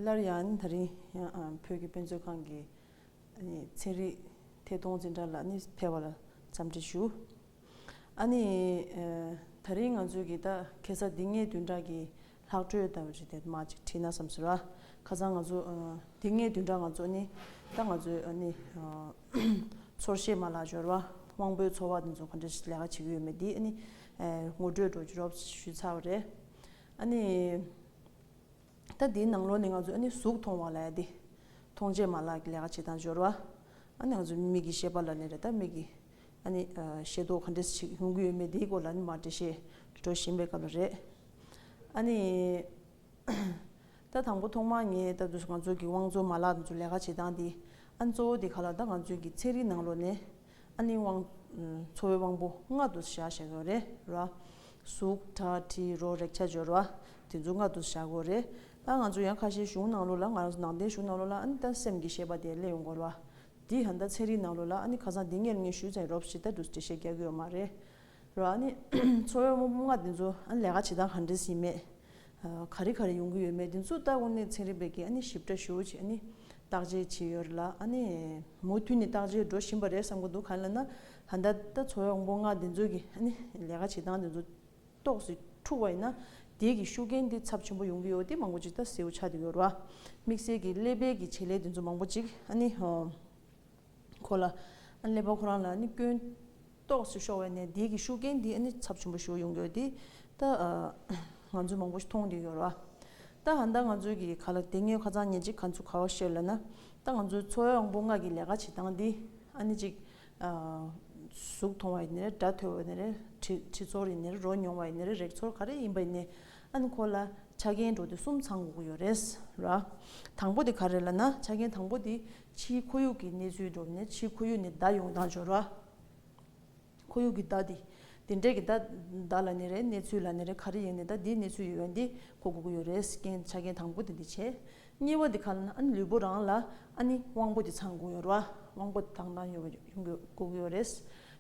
སླར་ཡང་ད་རིང་བོད་ཀྱི་དཔེ་མཛོད་ཁང་གི་ཚན་རིག་ཐད་གཏོང་འཛིན་གྲྭ་ལ་ནི་ཕེབས་པར་འཚམས་འདྲི་ཞུ། ཨ་ནི། ད་རིང་ང་ཚོས་གིས་ད་གེ་ས་འདི་ལྔའི་བདུན་ཕྲག་གི་ལྷག་སྤྲོད་ལྟ་བུ་རེད་དེ་མ་ཅིག་བྲིས་ན་བསམ་ཟོས་ར། ཁ་སང་ང་ཚོ་དེ་སྔའི་བདུན་ཕྲག་ང་ཚོ་ནི་ད་ང་ཚོའི་ཨ་ནི་ཚོར་བཤད་མ་ལག་སྦྱོར་བ་དབང་པོའི་འཚོ་བ་དེ་ཚོ་ག་འདྲ་ལས་ཀ་བྱེད་ཀྱི་ཡོད་མེད་དེ་ཨ་ནི་ངོ་སྤྲོད་འགྲོ་རྒྱུ་རོགས་ཞུས་ཚར་བ་རེད། ཨ་ནི་ད་དེའི་ནང་ལོགས་ནས་ང་ཚོ་ཨ་ནི་གཟུགས་མཐོང་བ་ལ་ཡ་དེ་མཐོང་བྱེད་མ་ལག་གི་ལས་ཀ་བྱེད་སྟངས་སྦྱོར་བ་ཨ་ནི་ང་ཚོ་མིག་གི་ཤེས་པ་ལ་ནི་རེ་ད་མིག་གི་ཨ་ནི་ཤེས་རྟོགས་ག་འདྲ་ཞིག་ཡོང་གི་ཡོད་མེད་དེའི་སྐོར་ལ་ནི་མར་འགྲེལ་བཤད་འགྲོ་བཞིན་པའི་སྐབས་ལ་རེད། ཨ་ནི། ད་དང་པོ་ཐོག་མར་ངས་ད་དུས་སུ་ང་ཚོ་གི་བང་མཛོད་མ་ལག་དེ་ལས་ཀ་བྱེད་སྟངས་དེ། ཨ་ནི་གཙོ་བོ་དེ་ག་ལ་ད་ང་ཚོའི་གི་ཚན་རིག་ནང་ལོ་ནས། ཨ་ནི་བང། འཚོ་བའི་དབང་པོ་ལྔ་དུ་བཞག་བཞེད་དགོས་རེད་ར། གཟུགས། དྲ་གྲི་རོ་རེག་ཆ་སྦྱོར་བ། དེ་ཚོ་ལྔ་དུ་བཞག་དགོས་རེད། ད་ང་ཚོ་ཡང་ཁ་ཤས་གཞུང་ནང་ལོ་ལ་ང་རང་ཚོ་ནང་བསྟན་གཞུང་ནང་ལོ་ལ་ཨ་ནི་ད་སེམས་ཀྱི་ཤེས་པ་དེ་གླེང་ཡོང་དགོས་ར། དེ་ཡང་ད་ཚན་རིག་ནང་ལོ་ལ་ཨ་ནི་ཁ་སང་དེ་ངེར་ངེར་ཞུས་ཚར་ཡོད་རོབ་ཞེས་ད་དུས་སུ་འགྲེལ་བཤད་རྒྱག་གི་ཡོད་མ་རེད། ར་ཨ་ནི། ཚོར་བའི་རྨོ་ལྔ་འདི་ཚོ་ཨ་ནི་ལས་ཀ་བྱེད་སྟངས་གང་འདྲས་ཟིན་མེད། ག་རེ་ག་རེ་ཡོང་གི་ཡོད་མེད་འདི་ཚོ་ལྟ་དགོས་ནས་ཚན་རིག་པའི་སྒེར་ཨ་ནི་ཞིབ་ཕྲ་ཞུ་བྱེད་ཨ་ནི་བརྟག་དཔྱད་བྱེད་ཡོད་རེད་ལ་ཨ་ནི་མུ་མཐུད་ནས་བརྟག་དཔྱད་འགྲོ་བཞིན་པ་རེད་བསམ་གི་འདུག་ག་ལ་ན་ད་ལྟ་ཚོར་བའི་རྨོ་ལྔ་འདི་ཚོ་གི་ཨ་ནི་ལས་ཀ་བྱེད་སྟངས་འདི་ཚོ་ཏོག་ཙེ་འཁྲུག་པ་ཡིན་ན་དེས་གི་ཤུགས་རྐྱེན་འདི་ཚབས་ཆེན་པོ་ཡོང་གི་ཡོད་དེ་མང་པོ་ཅིག་ད་སེའུ་ཆགས་འདི་ཡོད་རེད་བ། དམིགས་བསལ་གི་ཀླད་པའི་གི་བྱེད་ལས་འདི་ཚོ་མང་པོ་ཅིག་ཨ་ནི། ཁོ་ལ། ཀླད་པ་ཁོ་རང་ལ་ནི་སྐྱོན། རྟོགས་སུ་ཤོར་བས་ནས་འདིའི་གི་ཤུགས་རྐྱེན་འདིས་ནི་ཚབས་ཆེན་པོ་ཞུགས་ཡོང་གི་ཡོད་དེ། ད། ང་ཚོས་མང་པོ་ཞིག་མཐོང་དུ་ཡོད་རོ། ད་ཧ་ད་ང་ཚོས་གི་ག་ལ་དེ་སྔའི་ཁ་ཚང་ཉེ་གཅིག་ག་ཚོད་ག་བ་ཤེས་ལ་ན། ད་ང་ཚོའི་འཚོ་བའི་དབང་པོ་ལྔ་གི་ལས་ཀ་བྱེད་སྟངས་འདི། ཨ་ནི་ཅིག། གཟུགས་མཐོང་བ་ཡི་ནི་རེ་སྒྲ་ཐོས་བ་ཡི་ནི་རེ། དྲི་ཚོར་ཡི་ནི་རེ་རོ་མྱོང་བ་ཡི་ནི་རེ་རེག་ཚོར་ག་རེ་ཡིན་པ་ཡི་ནི། ཨ་ནི་ཁོ་ལ། ཆ་རྐྱེན་འགྲོ་དེ་གསུམ་ཚང་དགོས་ཀྱི་ཡོད་རེད། ར། དང་པོ་དེ་ག་རེ་ལ་ན་ཆ་རྐྱེན་དང་པོ་དེ། ཕྱིའི་ཁོར་ཡུག་གི་གནས་ཚུལ་སྒྲུབ་ནས་ཕྱིའི་ཁོར་ཡུག་ནི་བརྡ་ཡོང་སྟངས་སྦྱོར་བ། ཁོར་ཡུག་གི་བརྡ་འདི། དེ་འབྲེལ་གྱི་བརྡ། བརྡ་ལ་ནི་རེ་གནས་ཚུལ་ལ་ནི་རེ་ག་རེ་ཡིན་ནི་ད་འདིའི་གནས་ཚུལ་ཡོད་བ་འདི་གོ་དགོས་ཀྱི་ཡོད་རེད་རྐྱེན་ཆ་རྐྱེན་དང་པོ་དེ་འདི་བྱེད། གཉིས་བ་འདི་ག་ལ་ནི་ཨ་ནི་ལུས་པོ་རང་ལ་ཨ་ནི་དབང་པོ་འདི་ཚང་དགོས་ཡོད་ར་དབང་པོ་དང་དང་ཡོད་བ་ཡོང་དགོས་དགོས་ཀྱི་ཡོད་རེད།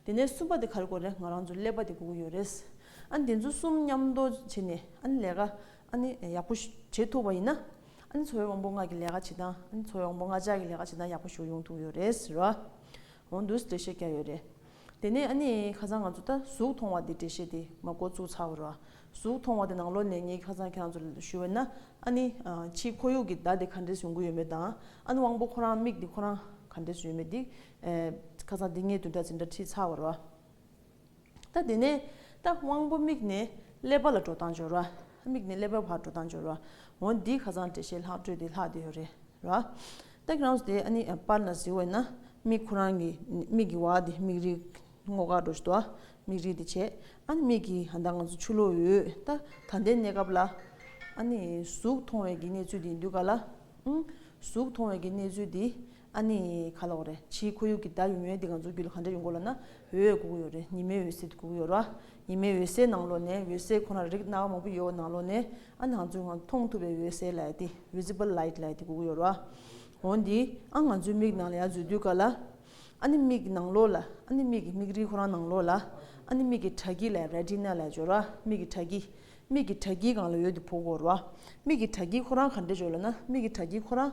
དེ་ནས་གསུམ་པ་འདི་ག་རེ་དགོས་རེད་ང་རང་ཚོ་ཀླད་པ་འདི་དགོས་ཀྱི་ཡོད་རེད། ཨ་ནི་འདི་ཚོ་གསུམ་མཉམ་འདོགས་བྱས་ནས་ཨ་ནི་ལས་ཀ་ཨ་ནི་ཡག་པོ་བྱེད་ཐུབ་བ་ཡིན་ན། ཨ་ནེ་ཚོའི་དབང་པོ་ལྔ་གི་ལས་ཀ་བྱེད་སྟངས་ཨ་ནེ་ཚོའི་དབང་པོ་ལྔ་ཅག་གི་ལས་ཀ་བྱེད་སྟངས་ཡག་པོ་ཞུ་ཡོང་ཐུབ་ཡོད་རེད་ཟེར་བ་འོང་འདུག་འགྲེལ་བཤད་རྒྱག་ཡོད་རེད། དེ་ནས་ཨ་ནེ་ཁ་སང་ང་ཚོ་ད་གཟུགས་མཐོང་བ་དེ་འགྲེལ་བཤད་དེ་མ་འགོ་བཙུགས་ཚར་བ་རེད། གཟུགས་མཐོང་བ་དེ་ནང་ལོ་ནས་ངས་ཁ་སང་ཁྱེད་རང་ཚོ་ལ་ཞུ་བ་ན་ཨ་ནེ་ཕྱིའི་ཁོར་ཡུག་གི་བརྡ་དེ་ག་འདྲས་ཡོང་གི་ཡོད་མེད་དང་ཨ་ནེ་དབང་པོ་ཁོ་རང་མིག་དེ་ཁོ་རང་ག་འདྲས་ཡོད་མེད་དེ་ཁ་སང་དེ་ངས་དུས་འདྲ་ཚིག་འདྲ་ཁྲིད་ཚར་བ་རེད། ད་དེ་ནས་ད་དབང་པོ་དམིགས་ནས་སླེབ་པ་ལ་འགྲོ་སྟངས་སྦྱོར་བ། དམིགས་ནས་སླེབ་པའི་བར་འགྲོ་སྟངས་སྦྱོར་བ། འོ་འདིའི་ཁ་ཚང་འགྲེལ་བཤད་ལྷག་སྤྲོས་དེ་ལྷག་དེ་ཡོད་རེད་ར། སྟག་གི་རང་སོ་དེ་ཨ་ནི་པར་ན་གཟིགས་འོས་ན་དམིགས་ཁོ་རང་གི་དམིགས་ཀྱི་བ་དེ་དམིགས་རིག་སྔོ་དཀར་འགྲོ་བཞིན་འདུག་དམིགས་རིག་དེ་བྱས་ཨ་ནི་དམིགས་ཀྱི་ད་ང་ཚོ་ཆུ་ལོག་ཡོད་ད་ད་ལྟའི་གནས་སྐབས་ལ། ཨ་ནི་གཟུགས་མཐོང་བའི་གི་གནས་ཚུལ་དེ་འདུག་ག་ལ། གཟུགས་མཐོང་བའི་གི་གནས་ཚུལ་དེ་ཨ་ནི། ག་ལོག་རེད་ཕྱིའི་ཁོར་ཡུག་གི་ཟླ་ཡུ་མོའི་འདི་ག་འཛུགས་རྒྱུ་ལ་ག་འདྲ་ཡོད་མགོ་ལ་ན་འོད་འོད་གུག་ཡོད་རེད་ཉི་མའི་འོད་ཟེར་དེ་གུག་ཡོད་ར་ཉི་མའི་འོད་ཟེར་ནང་ལོག་ནས་འོད་ཟེར་ཁོ་ན་རིགས་སྣ་བ་མང་པོ་ཡོད་ནང་ལོག་ནས་ཨ་ནང་ཚོས་ང་ཚོ་མཐོང་ཐུབ་པའི་འོད་ཟེར་ལའེ་ཏི Visible Light ལའེ་ཏི་གུག་ཡོད་ར་འོ་འདི་ཨ་ང་ཚོའི་མིག་ནང་ལ་ཡ་འཛུལ་དུས་ག་ལ་ཨ་ནི་མིག་གི་ནང་ལོག་ལ་ཨ་ནི་མིག་གི་མིག་རིལ་ཁོ་རང་ནང་ལོག་ལ་ཨ་ནི་མིག་གི་དྲ་སྐྱི་ལའེ Retina ལའེ་འཇོག་ར་མིག་གི་དྲ་སྐྱི་མིག་གི་དྲ་སྐྱི་གང་ལ་ཡོད་འདི་ཕོ་གོ་ར་མིག་གི་དྲ་སྐྱི་ཁོ་རང་ག་འདྲ་འཇོག་ལ་ན་མིག་གི་དྲ་སྐྱི་ཁོ་རང་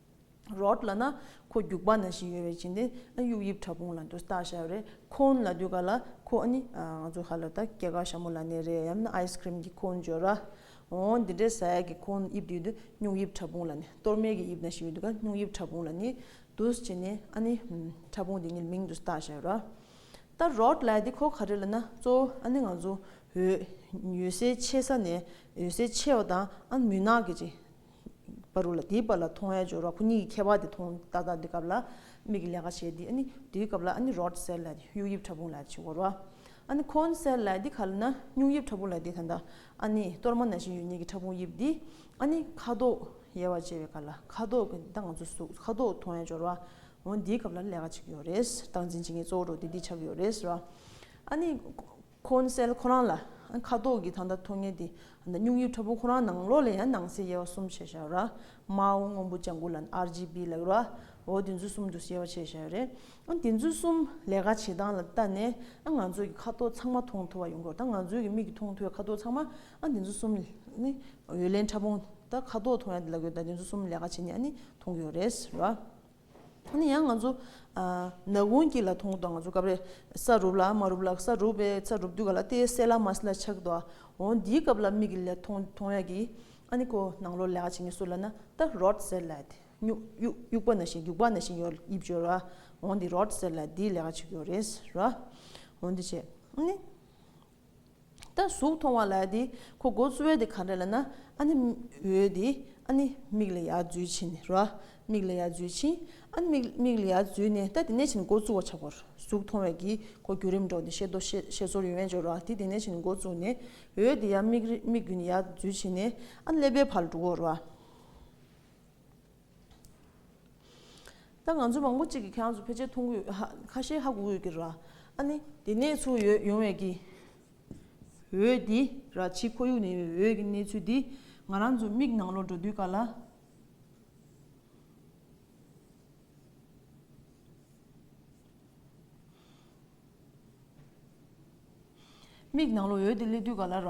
རོགས་ལ་ན་ཁོ་རྒྱུག་པ་ན་བཞིན་ཡོད་པའི་བྱིན་ཏེ་ཨ་གཡུག་ཡིབ་ཕྲ་ཕུང་ལ་འདུག་སྟག་ཤར་རེད་ཁོང་ལ་དུས་ག་ལ་ཁོ་ཨ་ནི་ང་ཚོ་ཧ་ལོ་ད་སྐྱེ་ག་ཞྭ་མོ་ལ་ནས་རེད་ཡམ་ན་ཨའི་སི་ཀྲིམ་གི་ཁོང་འཇོ་ར་འོ་འདི་འདྲའི་ཟ་ཡག་གི་ཁོང་དབྱིབས་དུས་དུ་སྨྱུག་ཡིབ་ཕྲ་ཕུང་ལ་ནས་གཏོར་མེད་གི་དབྱིབས་ན་བཞིན་ཡོད་དུས་ག་སྨྱུག་ཡིབ་ཕྲ་ཕུང་ལ་ནི་འདུག་བྱིན་ནས་ཨ་ནི་ཕྲ་ཕུང་དེ་ཉིད་མིང་དུ་སྟག་ཤར་ར་ད་རོགས་ལ་དེ་ཁོ་ག་རེད་ལ་ན་གཙོ་བོ་ཨ་ནི་ང་ཚོ་འོད་ཡོད་སའི་ཆེ་ས་ནས་འོད་ཟེར་ཆེ་བ་དང་ཨ་མུན་ནག་གི་ཅིག་པ་རུ་ལ་དེའི་བར་ལ་མཐོང་བའི་སྦྱོར་བ་ཁོ་གཉིས་ཀྱི་ཁྱད་པར་དེ་མཐོང་ལྟ་ལྟ་དེ་སྐབས་ལ་མིག་གི་ལས་ཀ་བྱེད་དེ་དེའི་སྐབས་ལ་རོལ་སེལ་ལ་དེ་གཡུག་དབྱིབས་ཕྲ་ཕུང་ལ་དེ་བྱེད་རོ། འཁོན་སེལ་ལ་དེ་ག་ལ་ན་སྨྱུག་དབྱིབས་ཕྲ་ཕུང་ལ་དེ་ད་ལྟ་གཏོར་མ་ན་བཞིན་ཡོད་ཉེས་ཀྱི་ཕྲ་ཕུང་དབྱིབས་དེ་ཁ་དོག་ཡལ་བར་བྱེད་པའི་ཁར་ལ་ཁ་དོག་གི་ད་ང་ཚོ་གཟུགས་ཁ་དོག་མཐོང་བའི་སྦྱོར་བ་འོན་དེའི་སྐབས་ལ་ལས་ཀ་བྱེད་ཀྱི་ཡོད་རེད་སྟངས་འཛིན་བྱེད་མཁན་གཙོ་བོ་རུ་དེ་དེ་ཆགས་ཀྱི་ཡོད་རེད། ཁོ་ནི་སེལ་ཁོ་རང་ལ་ཁ་དོག་གི་ད་ལྟ་ཐོགས་ངེས་དེ་སྙུང་ཡུལ་ཁྲ་བོ་ཁོ་རང་ནང་ལོགས་ལས་ཡང་ནང་གསལ་དབྱེ་བ་གསུམ་བྱས་བཞག་ར་མའོ་སྔོན་པོ་ལྗང་གུ་ལ RGB ལེགས་ར་འོ་དེ་ཚོ་གསུམ་དུ་དབྱེ་བ་བྱས་བཞག་རེད་དེ་ཚོ་གསུམ་ལས་ཀ་བྱེད་སྟངས་ལ་བལྟ་ནས་ང་ཚོ་གི་ཁ་དོག་ཚང་མ་མཐོང་ཐུབ་པ་ཡོང་དགོས་ད་ང་ཚོ་གི་མིག་གི་མཐོང་ཐུབ་པའི་ཁ་དོག་ཚང་མ་དེ་ཚོ་གསུམ་ནི་འོད་ལེན་ཕྲ་ཕུང་ད་ཁ་དོག་མཐོང་ཡ་དེ་ལ་གོས་ད་དེ་ཚོ་གསུམ་ལས་ཀ་བྱེད་ནས་ནི་མཐོང་གི་ཡོད་རེད་ར། ད་ནི་ཡང་ང་ཚོ། ནགས་ཀུན་སྐྱིད་ལ་ཐུང་ངུ་དང་ང་ཚོ་སྐབས་རེ། ས་རུབ་ལ་མ་རུབ་ལ་ས་རུབ་པའི་ས་རུབ་དུས་ག་ལ་སྟེ་སད་ལ་མ་སད་ལ་ཆགས་འདུག་ཨ། འོ་འདིའི་སྐབས་ལ་མིག་གི་ལས་ཐོང་ཐོང་ཡ་གི། ཨ་ནི་ཁོ་ནང་ལོགས་ལས་ཀ་བྱེད་ངེས་སུ་ལ་ན་ད་རོད་ཟེར་ལ། སྨྱུག་དབྱུག་དབྱུག་པ་ན་བཞིན་རྒྱུག་པ་ན་བཞིན་ཡོད་དབྱིབས་བྱོས་ར། འོ་འདི་རོད་ཟེར་ལ་འདིའི་ལས་ཀ་བྱེད་དགོས་རེད་ཟེར་ར། འོ་འདི་བྱས་ཨ་ནི། ད་གཟུགས་མཐོང་བ་ལ་དེ་ཁོ་མགོ་བཙུར་བས་དེ་ག་འདྲ་ལ་ན་ཨ་ནི་འོད་དེ་ཨ་ནི་མིག་ལ་ཡར་འཛུལ་ཕྱིན་རོ། མིག་ལ་ཡར་འཛུལ་ཕྱིན་ཨ་ནི་མིག་མིག་ལ་ཡར་འཛུལ་ནས་ད་དེ་ནས་ཕྱིན་མགོ་བཙུར་བ་ཆག་གོ། གཟུགས་མཐོང་བས་ཀྱིས་ཁོ་བརྒྱུད་རིམ་སྒྲོག་ནས་ཤེས་རྟོག་ཤེས་ཤེས་ཚོར་ཡོད་མེད་འཇོག་རོགས་དེ་དེ་ནས་ཕྱིན་མགོ་བཙུར་ནས་འོད་དེ་ཡར་མིག་རི་མིག་བརྒྱུད་ནས་ཡར་འཛུལ་ཕྱིན་ནས་ཨ་ནི་ཀླད་པའི་བར་འགྲོ་གོ་རོ། ད་ང་ཚོ་མང་པོ་གཅིག་གིས་ཁྱེད་རང་ཚོ་ཕལ་ཆེར་མཐོང་གི་ཡོད་ཧ་ཁ་ཤས་ཧ་གོ་གི་ཡོད་ཀི་ར་ཨ་ནི་དེ་གནས་ཚུལ་ཡོད་ཡོང་བས་ཀི་འོད་དེ་ར་ཕྱི་ཁོར་ཡུག་ནས་ཡོད་འོད་ཀི་གནས་ཚུལ་དེ་ང་རང་ཚོའི་མིག་ནང་ལོག་འགྲོ་དུས་ག་ལ། མིག་ནང་ལོག་འོད་དེ་སླེབས་དུས་ག་ལ་ར།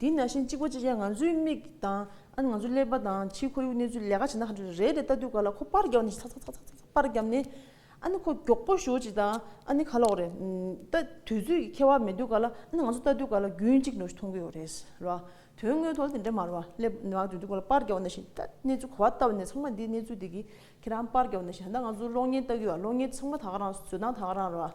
དེ་ནས་ཤིང་གཅིག་པོ་གཅིག་ཀྱང་ང་ཚོའི་མིག་དང། ཨ་ནི་ང་ཚོའི་ཀླད་པ་དང་ཕྱིའི་ཁོར་ཡུག་གནས་ཚུལ་ལས་ཀ་བྱེད་ན་ཧ་ཅང་རེད་དེ་ལྟ་དུས་ག་ལ་ཁོ་པར་བརྒྱབ་ནས་ཚག་ཚག་ཚག་ཚག་ཚག་པར་བརྒྱབ་ནས། ཨ་ནི་ཁོ་མགྱོགས་པོ་ཞོག་ཅིག་དང་ཨ་ནི་ག་ལོག་རེད། ལྟ་དུས་ཚོད་ཀྱི་ཁེ་བ་མེད་དུས་ག་ལ་ཨ་ནི་ང་ཚོ་ལྟ་དུས་ག་ལ་རྒྱུན་གཅིག་འགྲོ་ཞིག་མཐོང་གི་ཡོད་རེད་ཟེར་བ། དོན་དངོས་ཐོག་ལ་དེ་འདྲ་མ་རེད་བ། ཀླད་པ་ནང་དུས་ཚོད་ག་ལ་པར་བརྒྱབ་ནས་ཤིང་ལྟ་གནས་ཚུལ་གོ་བ་ལྟ་བུ་ནས་ཚང་མ་འདི་གནས་ཚུལ་འདི་གི་ཁྱེད་རང་པར་བརྒྱབ་ནས་ཤིང་ད་ང་ཚོ་གློག་བརྙན་ལྟ་གི་ཡོད་བ་གློག་བརྙན་ཚང་མ་དག་རང་བཟོས་སྟངས་དག་རང་རེད་བ།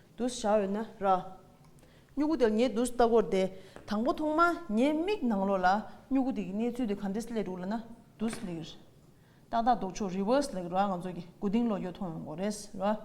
དུས་བཞག་ཡོད་ན་ར། སྨྱུ་གུ་དེར་ངས་དུས་བལྟ་སྐོར་དེ་དང་པོ་ཐོག་མ་ངའི་མིག་ནང་ལོགས་ལ་སྨྱུ་གུ་དེ་གི་གནས་ཚུལ་དེ་ག་འདྲས་སླེ་འདུག་ལ་ན་དུས་སླེ་གི་རེད། ཏག་ཏག་ལྡོག་ཕྱོགས reverse ལེགས་ར་ང་ཚོ་གི་དགུ་སྡིངས་ལོགས་ཡོད་མཐོང་ཡོང་གོ་རེད་ར།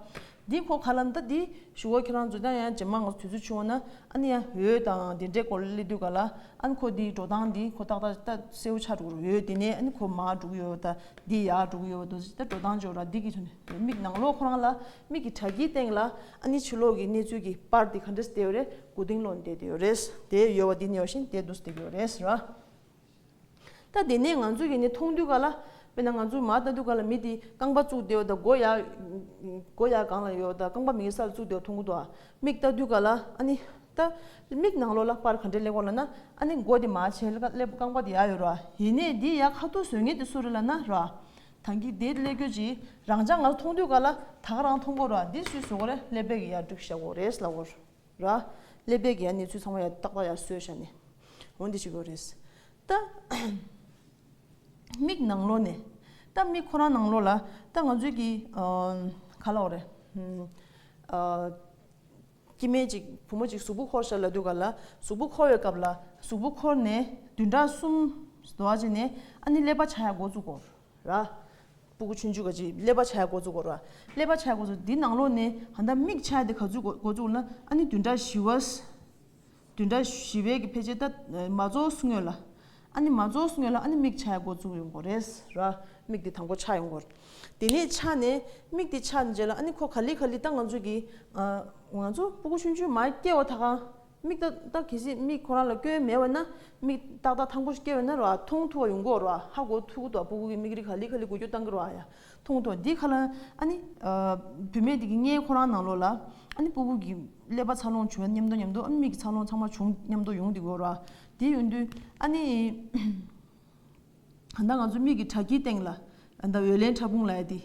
འདི་གོ་ག་ལ་འདི་འདི་ཞུ་བ་ཁྱེད་རང་ཚོ་ཀྱང་ཡང་ཇེ་མང་ང་ཚོ་དུས་ཚོད་ཆུང་བ་ན་ཨ་ནི་ཡང་འོད་དང་དེ་འདྲས་སྐོར་ལ་སླེ་དུས་ག་ལ་ཨ་ནི་ཁོ་དེའི་འགྲོ་སྟངས་འདི་ཁོ་ཏག་ཏག་ཏག་གསལ་བོ་ཆགས་འགྲོ་རུ་ཡོད་དེ་ནས་ཨ་ནི་ཁོ་མར་འགྲོ་གི་ཡོད་བ་ད་འདི་ཡར་འགྲོ་གི་ཡོད་བ་དུས་ད་འགྲོ་སྟངས་ཇོ་ར་འདི་གི་མིག་ནང་ལོགས་ཁོ་རང་ལ་མིག་གི་དྲ་ཁྱིའི་སྟེང་ལ་ཨ་ནི་ཆུ་ལོག་གི་གནས་ཚུལ་གྱི་པར་དེ་ག་འདྲས་བལྟས་ཡོད་རེད་དགུ་སྡིངས་ལོག་ནས་བལྟས་ཡོད་རེད་དེ་ཡོལ་བ་འདི་ནས་ཡོང་བཞིན་དེ་འདུག་བལྟས་ཡོད་རེད་ར། ད་དེ་ནས་ང་ཚོས་ཡེ་ནས་མཐོང་དུས་ག་ལ། དཔེར་ན་ང་ཚོས་མར་ལྟ་དུས་ག་ལ་མི་དེ་རྐང་པ་བཙུགས་བསྡད་ཡོད་ད་མགོ་ཡག་མགོ་ཡག་གང་ལ་ཡོད་ད་རྐང་པ་མིག་གི་སར་བཙུགས་བསྡད་ཡོད་མཐོང་གི་འདུག་ཨ། མིག་ལྟ་དུས་ག་ལ་ཨ་ནི། ད་མིག་ནང་ལོགས་ལ་པར་ག་འདྲས་སླེབས་གོ་ལ་ན་ཨ་ནི་མགོ་དེ་མར་བྱས་སླེབས་རྐང་པ་དེ་ཡག་ཡོད་ར། ཡེ་ནས་འདི་ཡག་ཁ་ཐུག་བཟོས་ངེས་དེ་སུ་རེད་ལ་ན་ར། དང་གི་དེ་ལས་ཁྱོད་ཀྱིས་རང་ཅག་ང་ཚོ་མཐོང་དུས་ག་ལ་ད་ག་རང་མཐོང་གོ་ར་འདི་སུས་བཟོ་གོ་རེ་ཀླད་པད་ཀྱི་ཡར་སྒྲུག་ཤག་གོ་རེས་ལ་གོ་ར་ཀླད་པད་ཀྱི་ཡར་གནས་ཚུལ་ཚང་མ་ཡར་ཏག་ཏག་ཡར་བཟོས་ཤག་ནས་འོ་འདི་ཅིག་གོ་རེས་ད་མིག་ནང་ལོ་ནས་ད་མིག་ཁོ་རང་ནང་ལོ་ལ་ད་ང་ཚོའི་གི་ག་ལ་འོ་རེ། སྐྱེ་མེད་ཅིག་བུ་མོ་ཅིག་གཟུགས་པོ་འཁོར་ཞབས་ལ་འདུག་ག་ལ། གཟུགས་པོ་འཁོར་བའི་སྐབས་ལ། གཟུགས་པོ་འཁོར་ནས་བདུན་ཕྲག་གསུམ། དོ་བ་ཅིག་ནས་ཨ་ནི་ཀླད་པ་ཆག་ཡ་འགོ་བཙུག་གོ། ར། སྤུ་གུ་ཆུན་ཆུ་ག་ཅིག་ཀླད་པ་ཆག་ཡ་འགོ་བཙུག་གོ། ར། ཀླད་པ་ཆག་ཡ་འགོ་བཙུག་འདི་ནང་ལོགས་ནས་ད་ལྟ་མིག་ཆག་ཡ་དེ་ག་ཚུགས་འགོ་བཙུག་ན་ཨ་ནི་བདུན་ཕྲག་བཞི་བ། བདུན་ཕྲག་བཞི་བའི་གི་ཕལ་ཆེར་ད། མ་རྫོགས་སུ་ངོས་ལ། ཨ་ནི་མ་རྫོགས་སུ་ངོས་ལ་ཨ་ནི་མིག་ཆ་ཡག་པོ་བཙུགས་ཡོང་གོ་རེད། ར། མིག་དེ་དང་པོ་ཆགས་ཡོང་གོ། དེ་ནས་ཆགས་ནས། མིག་དེ་ཆགས་རྗེས་ལ་ཨ་ནི་ཁོ་ག་ལི་ག་ལི་ད་ང་ཚོ་གི། ང་ཚོ་སྤུ་གུ་ཆུན་ཆུན་མ་སྐྱེ་བ་ད་གང། མིག་ཏག་ཏག་གལ་སྲིད་མིག་ཁོ་རང་ལ་སྐྱོན་མེད་བས་ན། མིག་ཏག་ཏག་ཐང་པོ་ཞིག་སྐྱེ་བས་ན་ར་མཐོང་ཐུབ་བ་ཡོང་གོ་ར་ཧ་གོ་ཐུག་གོ་ད་སྤུ་གུ་གི་མིག་རི་ག་ལི་ག་ལི་གོ་རྒྱུ་གཏང་གི་ར་ཡ། མཐོང་ཐོས་འདི་ཁ་ལ། ཨ་ནི། བུད་མེད་དེ་གིས་ངའི་ཁོ་རང་ནང་ལོགས་ལ། ཨ་ནི་སྤུ་བོ་གིས། ཀླད་པ་འཚར་ལོངས་བྱུང་སྙམ་དུ་སྙམ་དུ་ཨ་ནི་མིག་གི་འཚར་ལོངས་ཚང་མ་བྱུང་སྙམ་དུ་ཡོང་འདི་གོ་ར། དེ་ཡོང་དུས། ཨ་ནི། ད་ང་ཚོ་མིག་གི་དྲ་ཁྱིའི་སྟེང་ལ། ད་འོད་ལེན་ཕྲ་ཕུང་ལ་ཡ་དེ།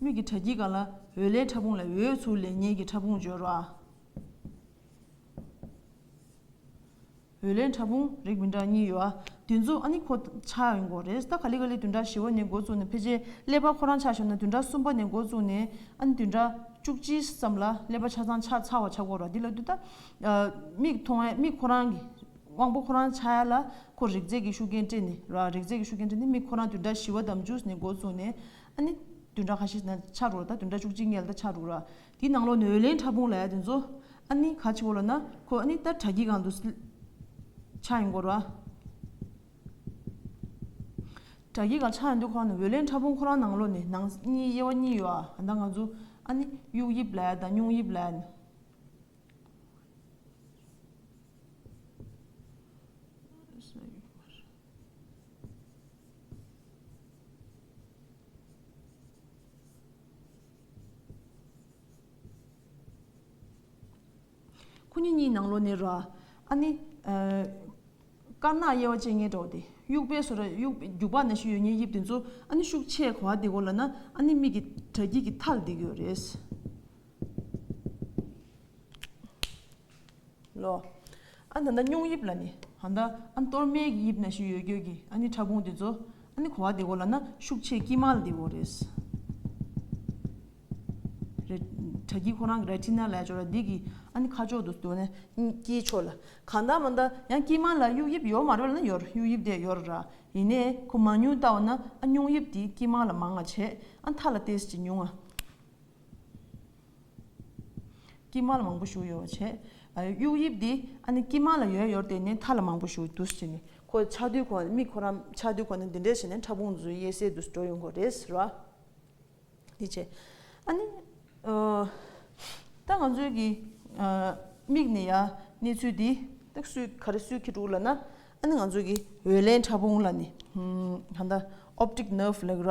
མིག་གི་དྲ་ཁྱིའི་སྒང་ལ་འོད་ལེན་ཕྲ་ཕུང་ལ་འོད་ཚུར་ལེན་ཉེན་གྱི་ཕྲ་ཕུང་སྦྱོར་རོགས་ཨ། འོད་ལས་ཕྲ་ཕུང་རིགས་མི་འདྲ་གཉིས་ཡོད་ཨ། དུས་མཚུངས་ཨ་ནི་ཁོ་ཆ་ཡིན་སྐོར་རེད། ད་ག་ལི་ག་ལི་དུད་འགྲ་བཞི་བ་ནས་འགོ་བཙུགས་ནས་ཕལ་ཆེར་ཀླད་པ་ཁོ་རང་ཆགས་ཞོར་ན་དུད་འགྲ་གསུམ་པ་ནས་འགོ་བཙུགས་ནས་ཨ་ནི་དུད་འགྲ་བཅུ་གཅིག་ཙམ་ལ་ཀླད་པ་ཆ་ཚང་ཆ་ཚང་བ་ཆགས་སྐོར་ར་འདི་ལ་དུས་ད་མིག་མཐོང་ཨེ་མིག་ཁོ་རང་གི་དབང་པོ་ཁོ་རང་ཆགས་ཡ་ལ་ཁོ་རིགས་རྫས་ཀྱི་ཤུགས་རྐྱེན་སྤྲད་ནས་ར་རིགས་རྫས་ཀྱི་ཤུགས་རྐྱེན་སྤྲད་ནས་མིག་ཁོ་རང་དུད་འགྲ་བཞི་བ་དམ་བཅུ་ནས་འགོ་བཙུགས་ནས་ཨ་ནི་དུད་འགྲ་ཁ་ཤས་ན་ཆགས་འགྲོ་ད་དུད་འགྲ་བཅུ་གཅིག་ངེད་ལ་ད་ཆགས་འགྲོ་ར་དེའི་ནང་ལོག་ནས་འོད་ལེན་ཕྲ་ཕུང་ལ་དེ་ཚོ་ཨ་ནི་ག་ཆེ་བོ་ལ་ན་ཁོ་ཨ་ནི་ལྟར་དྲ་གྱི་གང་དུ་ཆགས་ཡོང་གོ་ར། དྲ་གྱི་གང་ཆགས་ཡོང་དུས་ཁོ་ན་འོད་ལེན་ཕྲ་ཕུང་ཁོ་རང་ནང་ལོག་ནས་ནང་གཉིས་དབྱེ་བ་གཉིས་ཡོད་ཨ་ད་ང་ཚོ་ཨ་ནི་དབྱུག་དབྱིབས་ལ་དང་སྙུང་དབྱིབས་ལ་ནི། ཁོ་གཉིས་གཉིས་ནང་ལོ་ནི་རོ། ཨ་ནི། དཀར་ནག་དབྱེ་བ་བཅས་ངེས་འགྲོ་བ་སྟེ། དབྱུག་པའི་སོ་ར། རྒྱུག་པ་ན་ཤུ་ཡོད་ཉེར་དབྱིབས་དེ་ཚོ་ཨ་ནི་ཤུགས་ཆེས་གོ་བ་དེ་གོ་ལ་ན་ཨ་ནི་མིག་གི་དྲ་དཀྱིལ་གྱི་མཐའ་ལ་འདེགས་ཡོད་རེད། ལོ། ཨ་ན་ད་སྙུང་དབྱིབས་ལ་ནི། ཨ་ན་ཨ་གཏོར་མའི་གི་དབྱིབས་ན་ཤི་ཡོད་གྱོད་གི་ཨ་ནི་ཕྲ་ཕུང་དེ་ཚོ་ཨ་ནི་གོ་བ་དེ་གོ་ལ་ན་ཤུགས་ཆེ་དཀྱིལ་མ་ལ་དེ་གོ་རེད། དྲ་སྐྱིལ་ཁོ་རང་གི་ར་ཏི་ན་ལ་ཡ་ཅོ་ར་འདི་གི་ཨ་ནི་ཁ་ཕྱོགས་དུ་ནས་དཀྱིལ་ཕྱོགས་ལ་གང་ད་མ་ད་ཡང་དཀྱིལ་མ་ལ་དབྱུག་དབྱིབས་ཡོད་མ་རེད་ལ་ན་ཡོད་དབྱུག་དབྱིབས་དེ་ཡོད་ར་ཡིན་ནས་ཁོ་མང་ཉུང་བལྟ་བ་ན་ཨ་སྙུང་དབྱིབས་དེ་དཀྱིལ་མ་ལ་མང་ང་བྱས་ཨ་མཐའ་ལ་ཏེས་ཀྱི་ཉུང་ང། སྐྱི་མ་ལ་མང་པོ་བཞུར་ཡོད་བ་བྱེད། དབྱུག་དབྱིབས་འདི་ཨ་ནི་སྐྱི་མ་ལ་ཡོད་ཡོད་དེ་ནས་མཐའ་ལ་མང་པོ་བཞུར་འདུག་བྱས་ནས་ཁོ་ཆགས་དུས་ཁོ་མིག་ཁོ་ར་ཆགས་དུས་ཁོ་ནི་འདི་འདྲས་བྱས་ནས་ཕྲ་ཕུང་རྫུས་གཡས་སའི་དུས་སུ་འགྲོ་ཡོང་དགོས་རེད་ཟེར་བ། འདི་བྱས། ཨ་ནི། ད་ང་ཚོའི་གི་མིག་ནས་ཡ་གནས་ཚུལ་འདི་ཏག་སུས་ག་རེ་སུས་ཁེ་དྲུག་ལ་ན་ཨ་ནི་ང་ཚོའི་གི་འོད་ལེན་ཕྲ་ཕུང་ལ་ནི་ཧན་ད optic nerve ལགས་ར།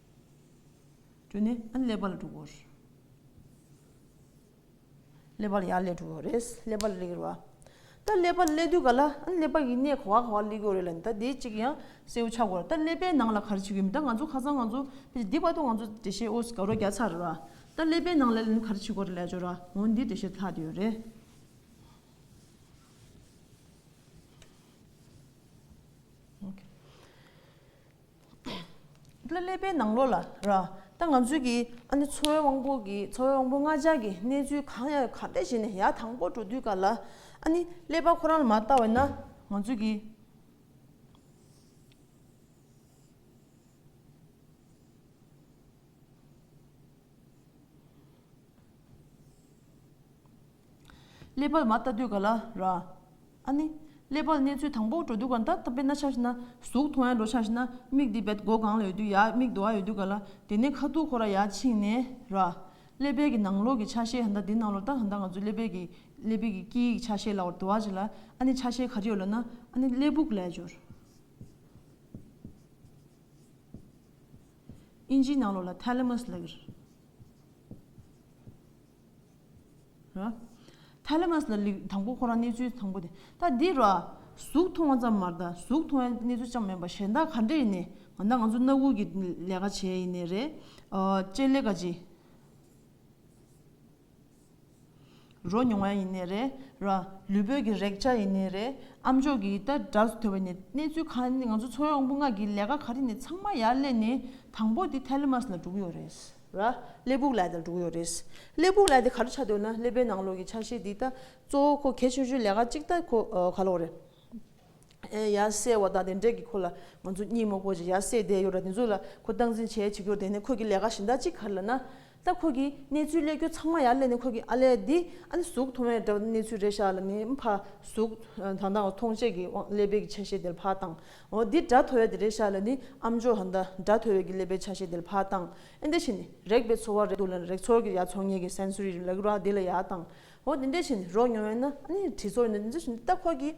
དྲུག་ནི་ཀླད་པ་ལ་དྲུག་གོ། ཀླད་པ་ལ་ཡང་ཀླད་དྲུག་གོ་རེད། ཀླད་པ་ལ་ཀླད་དྲུག་གོ། ད་ཀླད་པ་ལ་ཀླད་དུས་ག་ལ་ཀླད་པ་ཡི་གནས་ག་བ་ག་བ་ཀླད་དགོས་རེད་ལ་ད་དེ་གཅིག་ཡང་གསལ་བོ་ཆགས་དགོས་རེད་ད་ཀླད་པའི་ནང་ལ་ག་རེ་བྱེད་དགོས་མིན་ད་ང་ཚོ་ཁ་སང་ང་ཚོ་ཕེབས་དེ་བར་དུ་ང་ཚོ་འགྲེལ་བཤད་ཨོ་དགའ་རོགས་རྒྱག་ཚར་རེད་ལ་ད་ཀླད་པའི་ནང་ལ་ག་རེ་བྱེད་དགོས་རེད་ལས་ཅོ་ར་ངོ་འདི་འགྲེལ་བཤད་ལྷག་དེ་ཡོད་རེད། ལ་སླེབས་པའི་ནང་ལོགས་ལ་ར་ད་ང་ཚོས་ཀྱི་ཨ་ནེ་འཚོ་བའི་དབང་པོ་གི་འཚོ་བའི་དབང་པོ་ལྔ་ལྕགས་ཀྱི་གནས་ཚུལ་གང་ཡང་ཡོད་ག་བལྟས་བྱས་ནས་ཡག་དང་པོ་འགྲོ་དུས་ག་ལ་ཨ་ནི་ཀླད་པ་ཁོ་རང་ལ་མ་བལྟ་བས་ན་ང་ཚོས་ཀྱི། ཀླད་པ་ལ་མ་བལྟ་དུས་ག་ལ་ར། ཨ་ནི། ཀླད་པར་གནས་ཚུལ་དང་པོ་འགྲོ་དུས་གང་ལྟར་ད་པེ་ན་ཆགས་ཤི་ན། གཟུགས་མཐོང་ཡ་འགྲོ་ཆགས་ཤི་ན་མིག་འདི་བེད་སྒོ་གང་ལ་ཡོད་དུས་ཡ་མིག་རྡོ་ཨ་ཡོད་དུས་ག་ལ། དེ་ནས་ཁ་ཐུག་ཁོ་ར་ཡ་ཕྱིན་ནས་ར། ཀླད་པའི་གི་ནང་ལོག་གི་ཆ་ཤས་གང་ལྟར་དེ་ནང་ལོག་ལྟར་གང་ལྟར་ང་ཚོའི་ཀླད་པའི་གི། ཀླད་པའི་གི་དཀྱིལ་གི་ཆ་ཤས་ལ་བར་དོ་ཨ་ཅི་ལ། ཨ་ནི་ཆ་ཤས་ག་རེ་ཡོད་ལ་ན། ཨ་ནི་ཀླད་བུག་ལས་སྦྱོར། ཨིན་ཇིའི་ནང་ལོག་ལ Thalamus ལ་གིར། ཐ་ལེ་མཱས་ལ་ལིག་དང་པོ་ཁོ་རང་གནས་ཚུལ་དང་པོ་དེ་ད་འདི་རོ། གཟུགས་མཐོང་བ་ཙམ་མར་ད་གཟུགས་མཐོང་བའི་གནས་ཚུལ་ཅང་མེད་པ་གཞན་དག་ག་འདྲ་ཡིན་ནས་ང་ད་ང་ཚོ་སྣ་དགུ་གི་ལས་ཀ་བྱེད་ཡིན་ནས་རེད། སྤྱན་ལེགས་ཀ་ཅི། རོ་མྱོང་བ་ཡིན་ནས་རེད། ལུས་པོད་ཀྱི་རེག་བྱ་ཡིན་ནས་རེད། ཨ་མཆོག་གི་ད་དགྲ་ཟུ་ཐོད་པ་ནས་གནས་ཚུལ་ག་ནས་ང་ཚོ་འཚོ་བའི་དབང་པོ་ལྔ་གི་ལས་ཀ་ག་རེ་ནས་ཚང་མ་ཡར་ལས་ནས་དང་པོ་དེ་ཐ་ལེ་མཱས་ལ་འགྲོ་གི་ཡོད་རེད། ལ། སླེ་སྦུག་ལས་དང་དྲུག་ཡོད་རེད། སླེ་སྦུག་ལས་དེ་ག་རེ་ཆགས་འདོད་ན་སླེ་པའི་ནང་ལོགས་ཀྱི་ཆ་ཤས་འདི་ལྟ། གཙོ་བོ་ཁོ་གལ་ཆུང་ཆུང་ལས་ཀ་གཅིག་ལྟ་ཁོ་ག་ལོགས་རེད། ཡ་གསལ་བ་དང་དེ་འབྲེལ་གྱི་ཁོ་ལ་ང་ཚོ་གཉིད་མོག་པོ་ཅིག་ཡ་གསལ་བསྡད་ཡོད་ར་དེ་ཚོ་ལ་ཁོ་སྟངས་འཛིན་བྱས་བྱེད་རྒྱུར་བསྡད་ནས་ཁོ་གི་ལས་ཀ་གཞན་དག་ཅིག་ག་རེ་ལ་ན། ད་ཁོ་གི་གནས་ཚུལ་གླེད་རྒྱུ་ཚང་མ་ཡ་གླེད་ནས་ཁོ་གི་ཨ་ལས་འདི་ཨ་ནི་གཟུགས་མཐོང་བས་འདྲ་བ་གནས་ཚུལ་རེད་ཤག་ལ་ནི་ཕ་གཟུགས་དང་དང་མཐོང་བྱེད་ཀྱི་དབང་སླེ་པའི་གི་ཆ་ཤས་དེ་ལ་ཕ་དང་འོ་འདི་དགྲ་ཐོ་བས་དེ་རེད་ཤག་ལ་ནི་ཨམ་ཅོག་ཧ་མདའ་དགྲ་ཐོ་བས་གི་ལས་པའི་ཆ་ཤས་དེ་ལ་ཕག་བཏང་ཨེ་འདི་བཞིན་རེག་པའི་ཚོར་བ་རེག་འདུག་ལ་རེག་ཚོར་གི་ཡ་ཚོར་ངེད་ཀྱི་སེན་སུ་རི་རི་ལ་གི་རོ་ཨ་དེ་ལ་ཡ་བཏང་འོ་འདི་འདི་བཞིན་རོ་མྱོང་བས་ན་ཨ་ནི་དྲི་ཚོར་འདི་འདི་བཞིན་འདི་ལྟ་ཁོ་གི་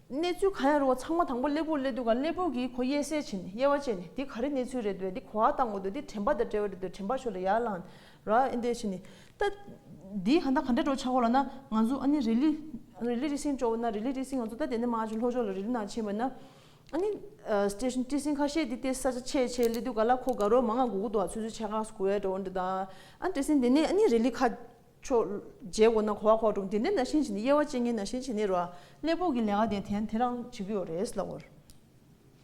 གནས་ཚུལ་གང་ཡང་རུང་བ་ཚང་མ་དང་པོ་སླེ་པོར་སླེ་འདུག་ག་སླེ་པོ་གིས་ཁོ་གཡས་སེ་བྱས་ནས་གཡས་བ་བཅད་ནས་འདི་ག་རེ་གནས་ཚུལ་རེད་འདོད་འདི་གོ་ཨ་བཏང་འོ་འདོད་འདི་དྲན་པ་དང་བྲལ་བ་རེད་འདོད་དྲན་པ་ཆོས་ལ་ཡ་བླངས་ར་ཨིན་དེ་བྱས་ནས་ད་དེ་གང་ད་གང་འདྲ་འགྲོ་ཆགས་གོ་ལ་ན་ང་ཚོ་ཨ་ནི་རི་ལི་རི་ལི་ཏི་སིང་སྤྱོ་བོ་ན་རི་ལི་ཏི་སིང་ང་ཚོ་ད་དེ་ནས་མ་ང་ཅུ་ལྷོ་ཕྱོགས་ལ་རི་ལི་ནང་ཕྱིན་པ་ན་ཨ་ནི་སྟེ་ཏི་སིང་ཁ་ཤས་དེ་ཏེ་ས་ཆ་ཆེ་ཆེ་ལི་འདུག་ག་ལ་ཁོ་དགའ་རོགས་མ་ང་གུ་གུ་འདུག་ཨ་ཚོད་ཚོད་ཆེ་ཁག་གོ་བས་འགྲོ་འདི་ད་ཨ་ཏི་སིང་དེ་ནས་ཨ་ནི་རི་ལི་ཁ་ཕྱོགས་རྗེས་གོ་ན་གོ་བ་ཁོག་འགྲོ་དེ་འདྲས་ན་ཤིང་བྱས་ནས་དབྱེ་བ་བཅད་ངེས་ན་ཤིང་བྱས་ནས་རོ་ཨ་ཀླད་ཕོག་གི་ལས་ཀ་དེ་དེ་རང་བྱེད་ཀྱི་ཡོད་རེད་ལབ་བོར།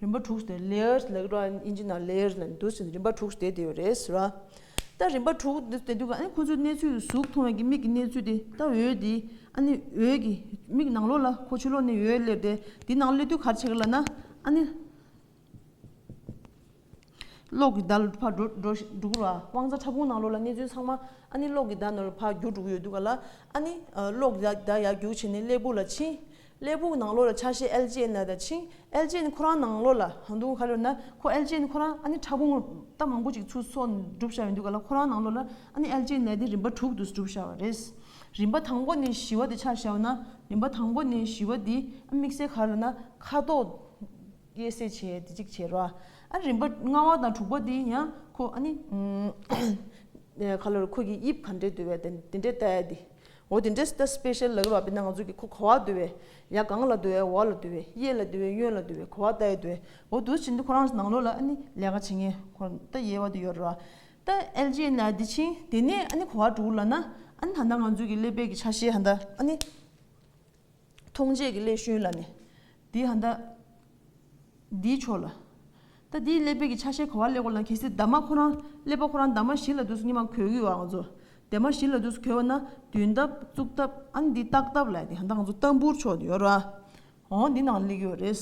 རིམ་པ་དྲུག་ནས་ལེའུར་ལེའུ་ར་ཨིན་ཇི་ནང་ལེའུར་ལེའུར་འདུག་ཟིན་རིམ་པ་དྲུག་བསྡད་དེ་ཡོད་རེད་ཟེར་བ། ད་རིམ་པ་དྲུག་འདི་བསྡད་འདུག་ཨ་ནི་ཁོ་ཚོའི་གནས་ཚུལ་གཟུགས་མཐོང་བས་ཀྱི་མིག་གི་གནས་ཚུལ་དེ་ད་འོད་དེ་ཨ་ནི་འོད་ཀྱི་མིག་ནང་ལོགས་ལ་ཁོ་ཆུ་ལོག་ནས་འོད་སླེབས་ཏེ་དེ་ནང་སླེབས་དུས་གར་ཆགས་ལ་ན་ཨ་ནི། གློག་གི་ཟླ་ནོར་བུ་ཕར་འགྲོ་འགྲོ་བ། དབང་རྩ་ཕྲ་ཕུང་ནང་ལོགས་ལ་གནས་ཚུལ་ཚང་མ། ཨ་ནི་གློག་གི་ཟླ་ནོར་བུ་ཕར་རྒྱུག་འགྲོ་གི་ཡོད་འདུག་ག་ལ། ཨ་ནི། གློག་གི་ཟླ་ཡར་རྒྱུག་བྱས་ནས་གླེགས་བུག་ལ་ཕྱིན། གླེགས་བུག་ནང་ལོགས་ལ་ཆ་ཤས་ཨེལ་ཅི་ཨེན་ལ་དང་ཕྱིན། ཨེལ་ཅི་ཨེན་ཁོ་རང་ནང་ལོགས་ལ་འདུག་ག་ལོས་ན། ཁོ་ཨེལ་ཅི་ཨེན་ཁོ་རང་ཨ་ནི་ཕྲ་ཕུང་རྟ་མང་པོ་ཅིག་ཚུར་སོག་ནས་བསྒྲུབ་བཞག་ཡོད་འདུག་ག་ལ་ཁོ་རང་ནང་ལོགས་ལ་ཨ་ནི་ཨེལ་ཅི་ཨེན་ལས་དེ་རིམ་པ་དྲུག་ཏུ་བསྒྲུབ་བཞག་བ་རེད། རིམ་པ་དང་པོ་ནས་བཞི་བ་དེ་ཆ་བཞག་ན། རིམ་པ་དང་པོ་ནས་བཞི་བ་དེ་དམིགས་བསལ་ག་ལ་ན་ཁ་དོག། ཀྱེ་སེ་བྱས་དེ་གཅིག་བྱས་རོ། ཨ་རི་བ་ལྔ་བ་དང་དྲུག་པ་དེ་ཡང་ཁོ་ཨ་ནི། ཁ་ལོ་རི་ཁོ་གི་དབྱིབས་ག་འདྲས་འདོད་པའི་དེ་དེ་འདྲས་བལྟ་ཡ་དེ། འོ་དེ་འདྲས་བལྟ་སྤེཤལ་ལགས་རོགས་པས་ན་ང་ཚོ་གི་ཁོ་ག་བ་འདོད་བའི། ཡ་གང་ལ་འདོད་བའི་འོག་ལ་འདོད་བའི་གཡས་ལ་འདོད་བའི་གཡོན་ལ་འདོད་བའི་ཁོ་བ་བལྟ་ཡ་འདོད་བའི་འོ་དུ་བྱིན་འདི་ཁོ་རང་ནང་ལོགས་ལ་ཨ་ནི་ལས་ཀ་བྱེད་ངེས་ཁོ་བལྟ་ཡས་བ་དེ་ཡོད་རོ། བལྟ་ཨལ་ཇེ་ན་དེ་ཆིང་དེ་ནས་ཨ་ནི་ཁོ་བ་དྲུག་ལ་ན་ཨ་ནི་ད་ནང་ང་ཚོ་གི་ལེ་བལ་གི་ཆ་ཤས་ཧ་ད་ཨ་ནི། མཐོང་བྱེད་ཀྱི་སླད་ཤོན་ལ་ནི། དེའི་ཧ་ད། འདིའི་ཕྱོགས་ལ། ད་དེའི་སླད་པས་ཀྱི་ཆ་ཤས་གོ་བ་སླད་གོ་ལ་གེ་སའི་འདབ་མ་ཁོ་རང་སླད་པ་ཁོ་རང་འདབ་མ་བཞི་ལ་དུས་སུ་གཉིས་མ་གོལ་གི་བའང་ཚོ། འདབ་མ་བཞི་ལ་དུས་སུ་གོལ་བ་ན་དུས་འདབ་གཙུག་འདབ་ཨ་ནི་འདི་རྟགས་འདབ་ལ་དེ་ཧ་ད་ང་ཚོ་ལྟ་འབུར་ཕྱོགས་དེ་ཡོད་ར། འོང་འདི་ནང་ལ་ལེགས་ཡོད་རེད།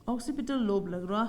Occipital Lobe ལགས་ར།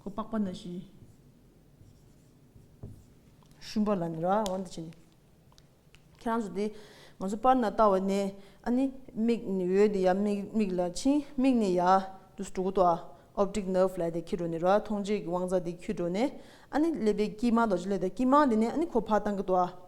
ཁོ་པགས་པ་ན་བཞིན། ཤུན་པ་ལ་ནི་ར་བ་འདི་བྱས་ནས། ཁྱེད་རང་ཚོ་དེ་ང་ཚོ་པར་ན་ལྟ་བ་ནས་ཨ་ནི་མིག་ནི་འོད་དེ་ཡ་མིག་ལ་ཕྱིན་མིག་ནི་ཡ་དུ་སྤྲུག་གོ་ཏོ་ཨ Optic Nerve ལ་དེ་འཁྱིལ་འགྲོ་ནས་ར་བ་མཐོང་བྱེད་ཀྱི་དབང་རྩ་དེ་འཁྱུད་འགྲོ་ནས་ཨ་ནི་ཀླད་པའི་དཀྱིལ་མ་དང་བྱེད་ལས་དང་དཀྱིལ་མ་དེ་ནས་ཨ་ནི་ཁོ་བག་བཏང་གི་ཏོ་ཨ།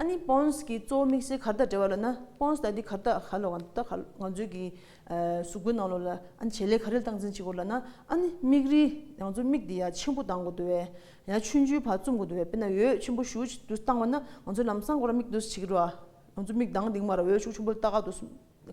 ཨ་ནི་སྤོངས་ཀྱི་གཙོ་བོ་དམིགས་བསལ་གར་སྟབས་བྲལ་བ་ལ་ན་སྤོངས་ལྟ་དེ་གར་སྟབས་ག་ལ་བ་ད་ག་ལ་ང་ཚོའི་གི་གཟུགས་པོའི་ནང་ལོ་ལ་ཨ་ནི་བྱེད་ལས་ག་རེ་ལ་སྟངས་འཛིན་བྱེད་དགོས་ལ་ན་ཨ་ནི་མིག་རིལ་ང་ཚོའི་མིག་དེ་ཡ་ཆེན་པོ་གདང་དགོས་དུ་བས་ཡ་ཆུན་ཆུན་བར་བཙུམ་དགོས་དུ་བས་དཔེར་ན་འོད་ཆེན་པོ་ཞུ་དུ་བཏང་བ་ན་ང་ཚོའི་ལམ་སང་གོ་ར་མིག་དུ་བྱེད་ཀྱི་རོ་ང་ཚོའི་མིག་གདང་དེང་མ་ར་འོད་ཤུགས་ཆུན་པོ་ལ་ལྟ་ག་དུ་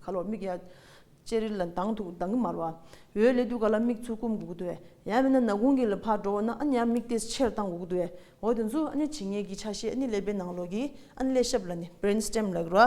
ག་ལོར་མིག་ཡ། ལྕེ་རིལ་ལ་མདངས་མཐུག་མདངས་དམར་བ། འོད་ལེ་དུག་ག་ལ་མིག་ཆུ་སྐོམ་འགུགས་འདོད། ཡང་མིན་ན་ན་གུང་གི་ལ་ཕར་འགྲོ་བ་ན་ཨ་ནི་ཡང་མིག་ལྟས་ཕྱིར་བཏང་འགུགས་འདོད། འོ་དེ་ཚོ་ཨ་ནི་བྱེད་ངེས་ཀྱི་ཆ་ཤས་ཨ་ནི་ཀླད་པའི་ནང་ལོགས་ཀྱི་ཨ་ནི་ཀླད་ཞབས་ལ་ནི Brain Stem ལགས་རོ།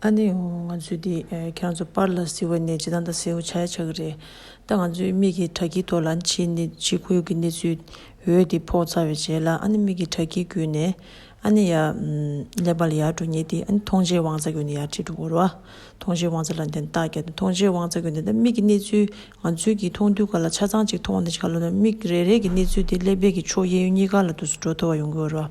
ཨ་ནེ་འོ་ང་ཚོས་འདི་ཁྱེད་རང་པར་ལ་ཟེར་བ་ནས་བྱེ་ཐང་དང་ཟེའུ་ཆ་ཆགས་ཀྱི་རེད་ད་ང་ཚོས་མིག་གིས་དྲ་སྐྱིད་ཐོག་ལ་འཆི་ཁུལ་གྱི་གནས་ཚུལ་འོད་དེ་ཕོག་ཚར་བའི་རྗེས་ལ་ཨ་ནེ་མིག་གིས་དྲ་སྐྱིད་བརྒྱུད་ནས་ཨ་ནེ་ཡར་ཀླད་པ་ལ་ཡར་འགྲོ་ཉེ་དེ་ཨ་ནེ་མཐོང་བྱའི་དབང་རྩ་གྱོན་ནས་ཡར་ཁྲིད་འགྲོ་གོ་རོ་ཨ་མཐོང་བྱའི་དབང་རྩ་ལ་འདི་ལྟ་བརྒྱབ་སྟེ་མཐོང་བྱའི་དབང་རྩ་གྱོན་ཏེ་མིག་གི་གནས་ཚུལ་ང་ཚོས་ཀྱིས་མཐོང་དུས་ག་ལ་ཆ་ཚང་ཅིག་མཐོང་བ་འདི་ཆ་ག་ལོ་ན་མིག་རེ་རེ་གི་གནས་ཚུལ་དེ་ཀླད་པའི་གི་ཕྱོགས་གཡས་གཡོན་གཉིས་ཀ་ལ་དུས་སུ་འགྲོ་ཐུབ་པ་ཡོང་གི་ཡོད་རོ་ཨ།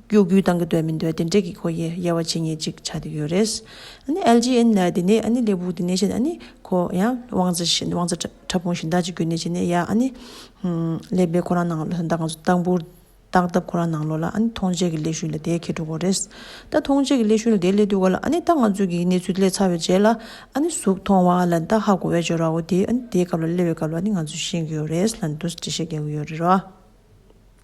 སྐྱོ་གུས་བཏང་གི་འདོད་མི་འདོད་དེ་འདྲེ་གི་ཁོ་ཡེ་ཡེ་བ་བྱེད་ངེས་ཅིག་ཆ་དེ་ཡོད་རེད། ཨཱ་ནི་ལྗི་ཨན། དེ་ནས་ཨཱ་ནི་ལས་བུག་དེ་ནས་བཤད་ཨཱ་ནི་ཁོ་ཡང་དབང་རྩ་བཞིན་དབང་རྩ་ཕྲ་ཕུང་བཞིན་བདག་ཅིག་གུས་ནས་བྱས་ནས་ཡ་ཨཱ་ནི། ལས་པས་ཁོ་རང་ནང་ལོ་ད་ང་ཚོ་སྟག་འབུར། སྟག་བཏབ་ཁོ་རང་ནང་ལོ་ལ་ཨཱ་ནི་མཐོང་བྱེད་ཀྱི་ཀླད་ཤུན་ལ་དེའི་ཁེ་གྲུག་གོ་རེད། ད་མཐོང་བྱེད་ཀྱི་ཀླད་ཤུན་ལ་དེའི་ཀླད་གཏུགས་ག་ལ་ཨཱ་ནི་ད་ང་ཚོས་ཀྱི་གནས་ཚུལ་ཀླད་ཚ་བའི་རྗེས་ལ་ཨཱ་ནི་གཟུགས་མཐོང་བ་ལ་ད་ཧ་གོ་བའི་སྦྱོར་བའོ་དེའི་ཨཱ་ནི་དེའི་སྐབས་ལ་ཀླད་བའི་སྐབས་ལ་ཨཱ་ནི་ང་ཚོས་ཤེས་ཀྱི་ཡོད་རེད་ལ་འདུག་ཅེས་བཤད་ཀྱི་ཡོད་རེད་རོ།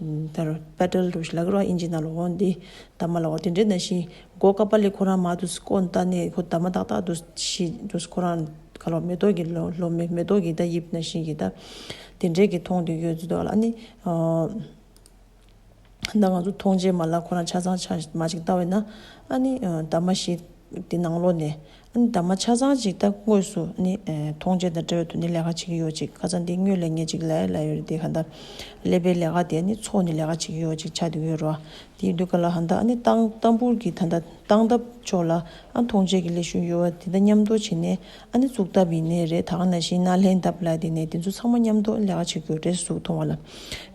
དར། པད་དཀར་ལུགས་ལ་ཀར་བ་ཨིན་ཇི་ནཱ་ལོ་འོང་འདི། དར་མ་ལ་འོ་དེ་འདྲེ་ནང་བཞིན། སྒོ་ཀ་པ་ལས་ཁོ་རང་མ་འདུག་སྐོ་ནྟ་ནས་ཁོ་དར་མ་ཏག་ཏག་འདུག་ཤི་འདུག་ཁོ་རང་ག་ལོ་མེ་ཏོག་གི་ལོ་ལོ་མེ་མེ་ཏོག་གི་ད་ཡིབ་ནང་བཞིན་གྱི་ད། དེ་འདྲེ་གི་མཐོང་དུ་ཡོད་འདུག་ཨ་ནི། ད་ང་ཚོ་མཐོང་རྗེས་མ་ལ་ཁོ་རང་ཆ་ཚང་ཆ་མ་ཅིག་ལྟ་བས་ན། ཨ་ནི། དར་མ་ཤི། དེ་ནང་ལོགས་ནས་འདབ་མ་ཆ་ཚང་ཅིག་སྟབས་དངོས་སུ་ནི་མཐོང་བྱེད་དང་འབྲེལ་བ་དུ་ནི་ལས་ཀ་བྱེད་ཀྱི་ཡོད་ཅིག་ཁ་ཚ་འདི་སྨྱོས་ལས་ངེས་ཅིག་ལའི་ལ་ཡོད་རེད་དེ་ག་འདའ། ཀླད་པའི་ལས་ཀ་དེ་ནི་ཚོགས་ནི་ལས་ཀ་བྱེད་ཀྱི་ཡོད་ཅིག་ཆ་དེ་ཡོད་རོ། དེ་ཡི་འདུག་ག་ལ་ཧ་འདའ་ནི་སྟངས་སྟངས་འབུར་གྱི་ད་འདའ་སྟངས་སྟབས་ཕྱོགས་ལ་མཐོང་བྱེད་ཀྱི་ལས་ཤུགས་ཡོད་བ་དེ་འདའ་མཉམ་འདོགས་བྱེད་ནས་ནི་བཙུགས་སྟབས་ཡིན་ནི་རེད་ད་ག་ནའ་བཞིན་ན་ལྷའི་འདབ་ལ་དེ་ནས་དེ་ཚོ་ཚང་མ་མཉམ་འདོགས་ལས་ཀ་བྱེད་དགོས་རེད་གཟུགས་མཐོང་བ་ལ་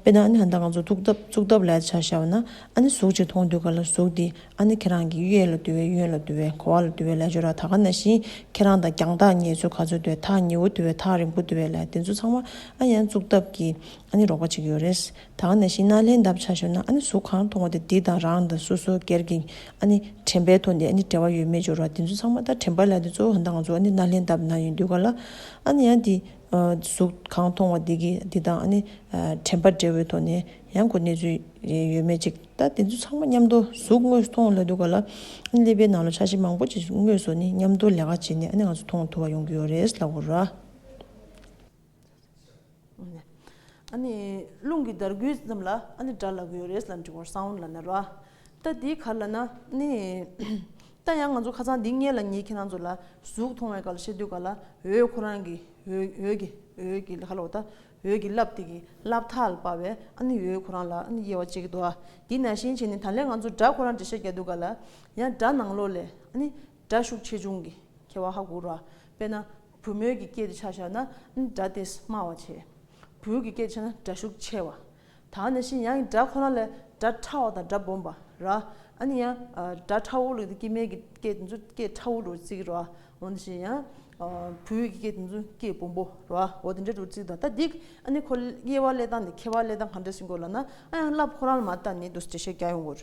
དཔེ་ན་ནི་ཧ་འདའ་ང་ཚོ་བཙུགས་སྟབས་བཙུགས་སྟབས་ལས་ཆ་བྱ་བ་ན་ནི་གཟུགས་ཅིག་མཐོང་འདུག་ག་ལ་གཟུགས་དེ་ཨ་ནི་ཁྱེད་རང་གིས་གཡས་ལ་དུལ་བས་གཡོན་ལ་དུལ་བས་འཁོར་བ་ལ་དུལ་བའི་ལས་སྦྱོར་ར་ད་ག་ན་བཞིན་ཁྱེད་རང་དང་རྒྱང་ཐག་ཉེ་ཚོད་ག་ཚོད་དུལ་ཐག་ཉེ་བོ་དུལ་བས་ཐག་རིང་པོ་དུལ་བའི་ལས་དེ་ཚོ་ཚང་མ་ཨ་ཡན་བཙུགས་སྟབས་ཀྱིས་ཨ་ནི་རོགས་པ་བྱེད་ཀྱི་ཡོད་རེད། ད་ག་ན་བཞིན་ན་ལྷན་ཐབས་བྱ་ཞོར་ན་ཨ་ནི་གཟུགས་གང་མཐོང་བ་དེ་དེ་དང་རང་དང་སོ་སོའི་སྐེར་གྱི་ཨ་ནི་དྲན་པའི་ཐོག་ནས་ཨ་ནི་བྲལ་བ་ཡོད་མེད་སྦྱོར་བ་དེ་ཚོ་ཚང་མ་ད་དྲན་པ་ལས་དེ་ཚོ་ད་ང་ཚོ་ཨ་ནི་ན་ལྷན་ཐབས་ན་ཡོད་དུས་ག་ལ་ཨ་ནི་ཡང་དེ་གཟུགས་གང་མཐོང་བ་དེ་གི་དེ་དང་ཨ་ནི་དྲན་པ་བྲལ་བའི་ཐོག་ནས་ཡང་གོ་གནས་ཚུལ་ཡོད་མེད་ཅིག། ད་དེ་ཚོ་ཚང་མ་མཉམ་དུ་གཟུགས་དངོས་སུ་མཐོང་ལ་འདུག་ག་ལ། ཀླད་པའི་ནང་ལ་ཆ་ཤས་མང་པོ་ཅིག་གཟུགས་དངོས་སུ་ནི་མཉམ་དུ་ལས་ཀ་བྱས་ནས་ཨ་ནི་ང་ཚོ་མཐོང་ཐུབ་པ་ཡོང་གི་ཡོད་རེད་ལགས་འོ་ར། ཨ་ནི་རླུང་གི་འདར་འགུལ་ཙམ་ལ་ཨ་ནི་འདྲ་ལགས་ཀྱི་ཡོད་རེད་ལ་འབྲི་བར་སང་འོ་ལ་ན་ར། ད་དེའི་ཁར་ལ་ན་ནི། ད་ཡང་ང་ཚོ་ཁ་ཚང་འདི་ངེད་ལ་ཉེ་ཁྱེད་རང་ཚོ་ལ་གཟུགས་མཐོང་བའི་ཀ་ལ་བཤད་འདོད་ག་ལ་འོད་ཁོ་རང་གི་འོད་འོད་ཀྱི་འོད་ཀྱི་ལ་ཁ་ལ་འོ་ད་འོད་ཀྱི་རླབས་དེ་གི་རླབས་ཐག་ལ་བབས་པས་ཨ་ནི་ཡོའི་ཁོ་རང་ལ་ཨ་ནི་དབྱེ་བ་གཅིག་གི་དོ་ཨ། དེ་ན་ཤིང་བྱས་ནི་ད་ལས་ང་ཚོ་སྒྲ་ཁོ་རང་འབྲི་ཤ་རྒྱག་འདུག་ག་ལ། ཡང་སྒྲ་ནང་ལོགས་ལས་ཨ་ནི་སྒྲ་ཤུགས་ཆེ་ཆུང་གི་ཁྱད་བ་ཧ་གོ་རོ་ཨ། དཔེར་ན་བུ་མོའི་གི་སྐད་དེ་ཆ་བཞག་ན་ཨ་ནི་སྒྲ་དེས་དམའ་བ་བྱེད། བུའི་གི་སྐད་དེ་ཆ་ན་སྒྲ་ཤུགས་ཆེ་བ། ད་ནི་ཤི་ཡང་གི་སྒྲ་ཁོ་ན་ལས་སྒྲ་ཕྲ་བ་དང་སྒྲ་སྦོམ་པ་ར། ཨ་ནི་ཡང་སྒྲ་ཕྲ་བོ་ལུགས་དེ་སྐྱེ་མེད་ཀྱི་སྐད་དེ་ཚོ་སྐད་ཕྲ་བོ་ལུགས་ཚིག་ར། འོ་ནི་ཤི་ཡང་བུ་ཡུག་གི་སྐད་དེ་ཚོ་སྐད་སྦོམ་པོ་ར་འོ་དེ་འདྲའི་ལུགས་ཚིག་དང་ད་འདི་ཨ་ནི་ཁོ་དབྱེ་བ་ལས་དང་ནི་ཁྱེར་བ་ལས་དང་གང་འདྲ་ཞིག་གོ་ལ་ན་ཨ་ཡང་སླབ་ཁོ་རང་ལ་མ་ལྟ་ནི་དུས་ཇི་ཤེས་རྒྱ་ཡོང་གོ་ར།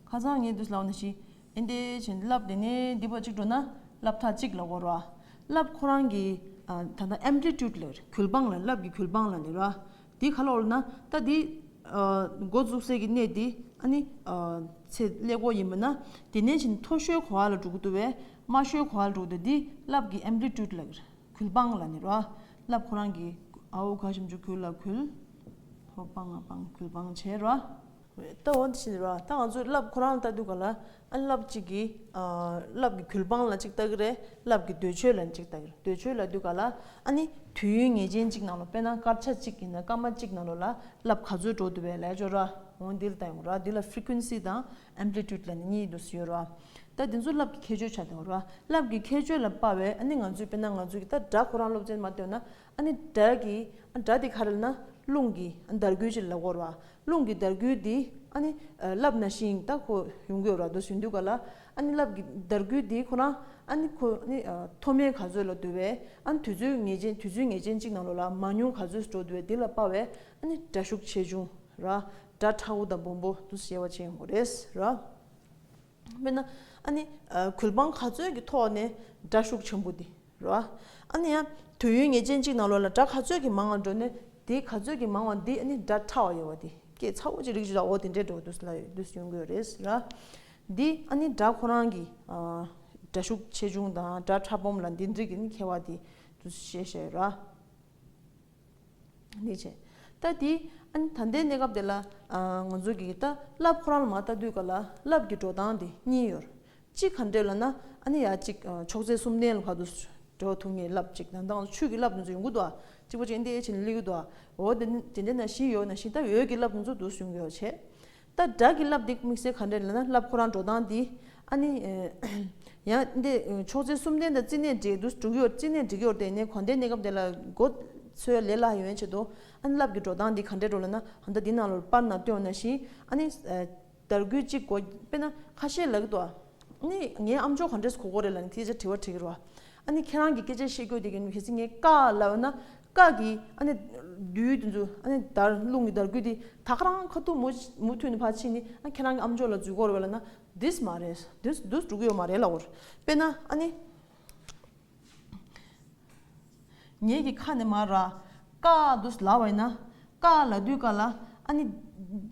ཁ་བཟང་ངས་འདུས་ལ་འོ་ན་ཤི། ཨེ་འདས་བྱིན་འདི་རླབས་དེ་ནས་འདི་བར་གཅིག་འགྲོ་ན། རླབས་ཐག་གཅིག་ལ་བོར་བ། རླབས་ཁོ་རང་གི། ད་ལྟ Amplitude ལ་གུལ་འབངས་ལ་རླབས་ཀྱི་གུལ་འབངས་ལ་ནི་ར། དེའི་ཁ་ལོག་ལ་ན། ལྟ་འདི། མགོ་འཛུགས་སའི་གི་གནས་འདི། ཨ་ནི། ཚེ་ཀླད་སྒོ་ཡིན་པ་ན། དེ་ནས་བྱིན་མཐོ་ཤོས་གོ་བ་ལ་འགྲོ་གི་འདུག་བས། དམའ་ཤོས་གོ་བ་ལ་འགྲོ་གི་འདུག་འདི་རླབས་ཀྱི Amplitude ལ། གུལ་འབངས་ལ་ནི་ར། རླབས་ཁོ་རང་གི། ཨའུ་ག་ཞིམ་ཆུ་གུལ་ལ་གུལ། ཕོ་སྤང་ང་སྤང་གོས་སྤང་བྱེད་རོ། ལྟ་འོ་དེ་བྱེད་རོ་ད་ང་ཚོས་རླབས་ཁོ་རང་ལྟ་དུས་ག་ལ་ཨ་རླབས་ཅིག་གིས་རླབས་ཀྱི་གུལ་སྤང་ལ་ཅིག་ལྟ་གི་རེད་རླབས་ཀྱི་འདོད་ཆོས་ལ་ཅིག་ལྟ་གི་རེད་འདོད་ཆོས་ལ་དུས་ག་ལ་ཨ་ནི་དུས་ཡུན་ངེས་ཅན་ཅིག་ནང་ལོ་དཔེར་ན་སྐར་ཆ་གཅིག་ཡིན་ན་སྐར་མ་གཅིག་ནང་ལོ་ལ་རླབས་ག་ཚོད་འགྲོ་འདུག་བས་ལས་བྱོ་རོ། འོ་འདི་ལ་ལྟ་ཡོང་རོ་འདི་ལ Frequency དང Amplitude ལ་ནི་གཉིས་འདུ་ཟི་ཡོད་རོ། ད་འདི་ཚོ་རླབས་ཀྱི་ཁྱད་ཆོས་ཆ་ལྟ་ཡོང་རོ་རླབས་ཀྱི་ཁྱད་ཆོས་ལ་དཔའ་བས་ཨ་ནི་ང་ཚོས་དཔེར་ན་ང་ཚོས་ཀྱི་ད་སྒྲ་ཁོ་རང་སློབ་ཚན་མ་བཏོན་ན་ཨ་ནི་དགྲ་གི་དགྲ་དེ་ག་རེ་ལ་ན་རླུང་གི་འདར་སྒུལ་ཅིག་ལ་བསྐོར་བ། རླུང་གི་འདར་སྒུལ་དེ་ཨ་ནི་རླབས་ན་ཤིང་རྟ་ཁོ་ཡུང་གི་རོ་དོ་ཞུ་འདུལ་ག་ལ་ཨ་ནི་རླབས་ཀྱི་འདར་སྒུལ་དེ་ཁོ་ན་ཨ་ནི་ཁོ་ནི་མཐོ་དམན་ག་ཚོད་ལ་འདུལ་བས་ཨ་ནི་དུས་ཚོད་ངེས་ཅན་དུས་ཚོད་ངེས་ཅན་གཅིག་ན་ལོ་ལ་མ་ཉུང་ག་ཚོད་འགྲོ་འདུལ་བས་དེ་ལ་དཔའ་བས་ཨ་ནི་དགྲ་ཤུགས་ཆེ་ཆུང་ར་དགྲ་ཁྲ་བོ་དང་སྦོམ་པོ་དུ་གསལ་བ་བྱེད་ངོ་རེས་ར། དཔེར་ན་ཨ་ནི་གུས་འབངས་ག་ཚོད་ཀྱི་ཐོག་ནས་དགྲ་ཤུགས་ཆེན་པོ་འདི་རུ་ཨ་ཨ་ནི་ཡ་དུས་ཡུན་ངེས་ཅན་གཅིག་ནང་ལོགས་ལ་དགྲ་ག་ཚོད་ཀྱི་མང་བ་འགྲོ་ནས་དེའི་ག་ཚོད་ཀྱི་མང་བ་འདི་ཨ་ནི་དགྲ་ཕྲ་བ་ཡོད་བ་འདི་སྐད་ཚ་བོ་ཅིག་རིག་ཅིག་ཨོ་དེ་འདྲའི་འགྲོ་དུས་ལ་ཡོད་དུས་སྐྱོན་དགོས་རེད་ཟེར། འདི་ཨ་ནི་དགྲ་ཁོ་རང་གི་དགྲ་ཤུགས་ཆེ་ཆུང་དང་དགྲ་ཕྲ་སྦོམ་ལ་འདི་འགྲིག་གི་ནི་ཁེལ་བ་འདི་དུས་ཤེས་ཤེས་ར། ནས་བྱས། ད་དེ། ད་ལྟའི་གནས་སྐབས་དེ་ལ། ང་ཚོ་གིས་ད་རླབས་ཁོ་རང་ལ་མ་ལྟ་དུས་ག་ལ་རླབས་ཀྱི་འགྲོ་སྟངས་དེ་གཉིས་ཡོད། གཅིག་ག་འདྲས་ལ་ན། ཡ་གཅིག་ཕྱོགས་ཚད་སུམ་ལྡན་ལ་བར་དུ་འགྲོ་ཐུབ་ངེས་རླབས་གཅིག་ད་དང་ཆུ་གི་རླབས་དེ་ཚོ་ཡོང་གི་འདུག་ཨ། གཅིག་པ་ཅན་དེ་ཕྱིན་ལས་གི་འདུག་ཨ། འོ་དེ་འདྲས་ན་བཞི་ཡོད་ན་བཞི་ད་འོད་ཀྱི་རླབས་དེ་ཚོ་དུ་བྱུང་ཡོད་བྱས། ད་བདག་གིས་རླབས་འདེགས་དམིགས་བསལ་ག་འདྲས་ལེན་ན་རླབས་ཁོ་རང་འགྲོ་སྟངས་འདི་ཨ་ནི། ཡང་འདི་ཕྱོགས་ཚན་གསུམ་ལྡན་དང་རྩིས་གནས་འབྲེག་དུ་སྒྲུག་ཡོད་རྩིས་གནས་འབྲེག་ཡོད་དེ་ནས་གོ་བདེ་གནས་སྐབས་དེ་ལ་སྒོ་ཚོའི་ལས་སླ་ཡོན་བྱེད་དོ། ཨ་ནི་རླབས་ཀྱི་འགྲོ་སྟངས་འདི་ག་འདྲས་འགྲོ་ལེན་ན་ཨ་མདའ་འདི་ནང་ལོར་པར་ནང་བཏོན་ན་ཞིང་ཨ་ནི། དར་རྒུད་གཅིག་གོ་དཔེ་ན་ཁ་ཤས་ལག་ཏུ་ཨ་ནི་ངའི་ཨམ་ཅོག་ག་འདྲས་སུ་གོ་གོ་རེད་ལ་ནི་དེ་ཅག་དྲི་བ་དྲིས་ཀྱི་རོ། ཨ་ནི་ཁྱེད་རང་གི་སྐད་ཆའི་ཤེས་རྒྱུད་དེ་གི་ནུས་ཤེས་ཚིག་ངན་ཀ་ལ་ཡོད་ན་སྐག་གིས་ཨ་ནི་བདུད་དུ་འཛུལ། ཨ་ནི་དར་རླུང་གིས་དར་རྒུད་དེ། ད་ཁ་རང་ཁ་ཐུག་མུ་མཐུད་ནས་ཕར་ཕྱིན་ནི་ཨ་ནི་ཁྱེད་རང་གི་ཨ་མཆོག་ལ་འཛུལ་འཁོར་བས་ལ་ན་དིས་མ་རེད་དིས་དིས་འགྲོ་གི་ཡོད་མ་རེད་ལ་འོར། དཔེར་ན་ཨ་ནི། ངེད་ཀྱི་ཁ་ནས་མ་ར། ཀག་དིས་ལ་བས་ན། ཀག་ལ་དུས་ཀ་ལ། ཨ་ནི།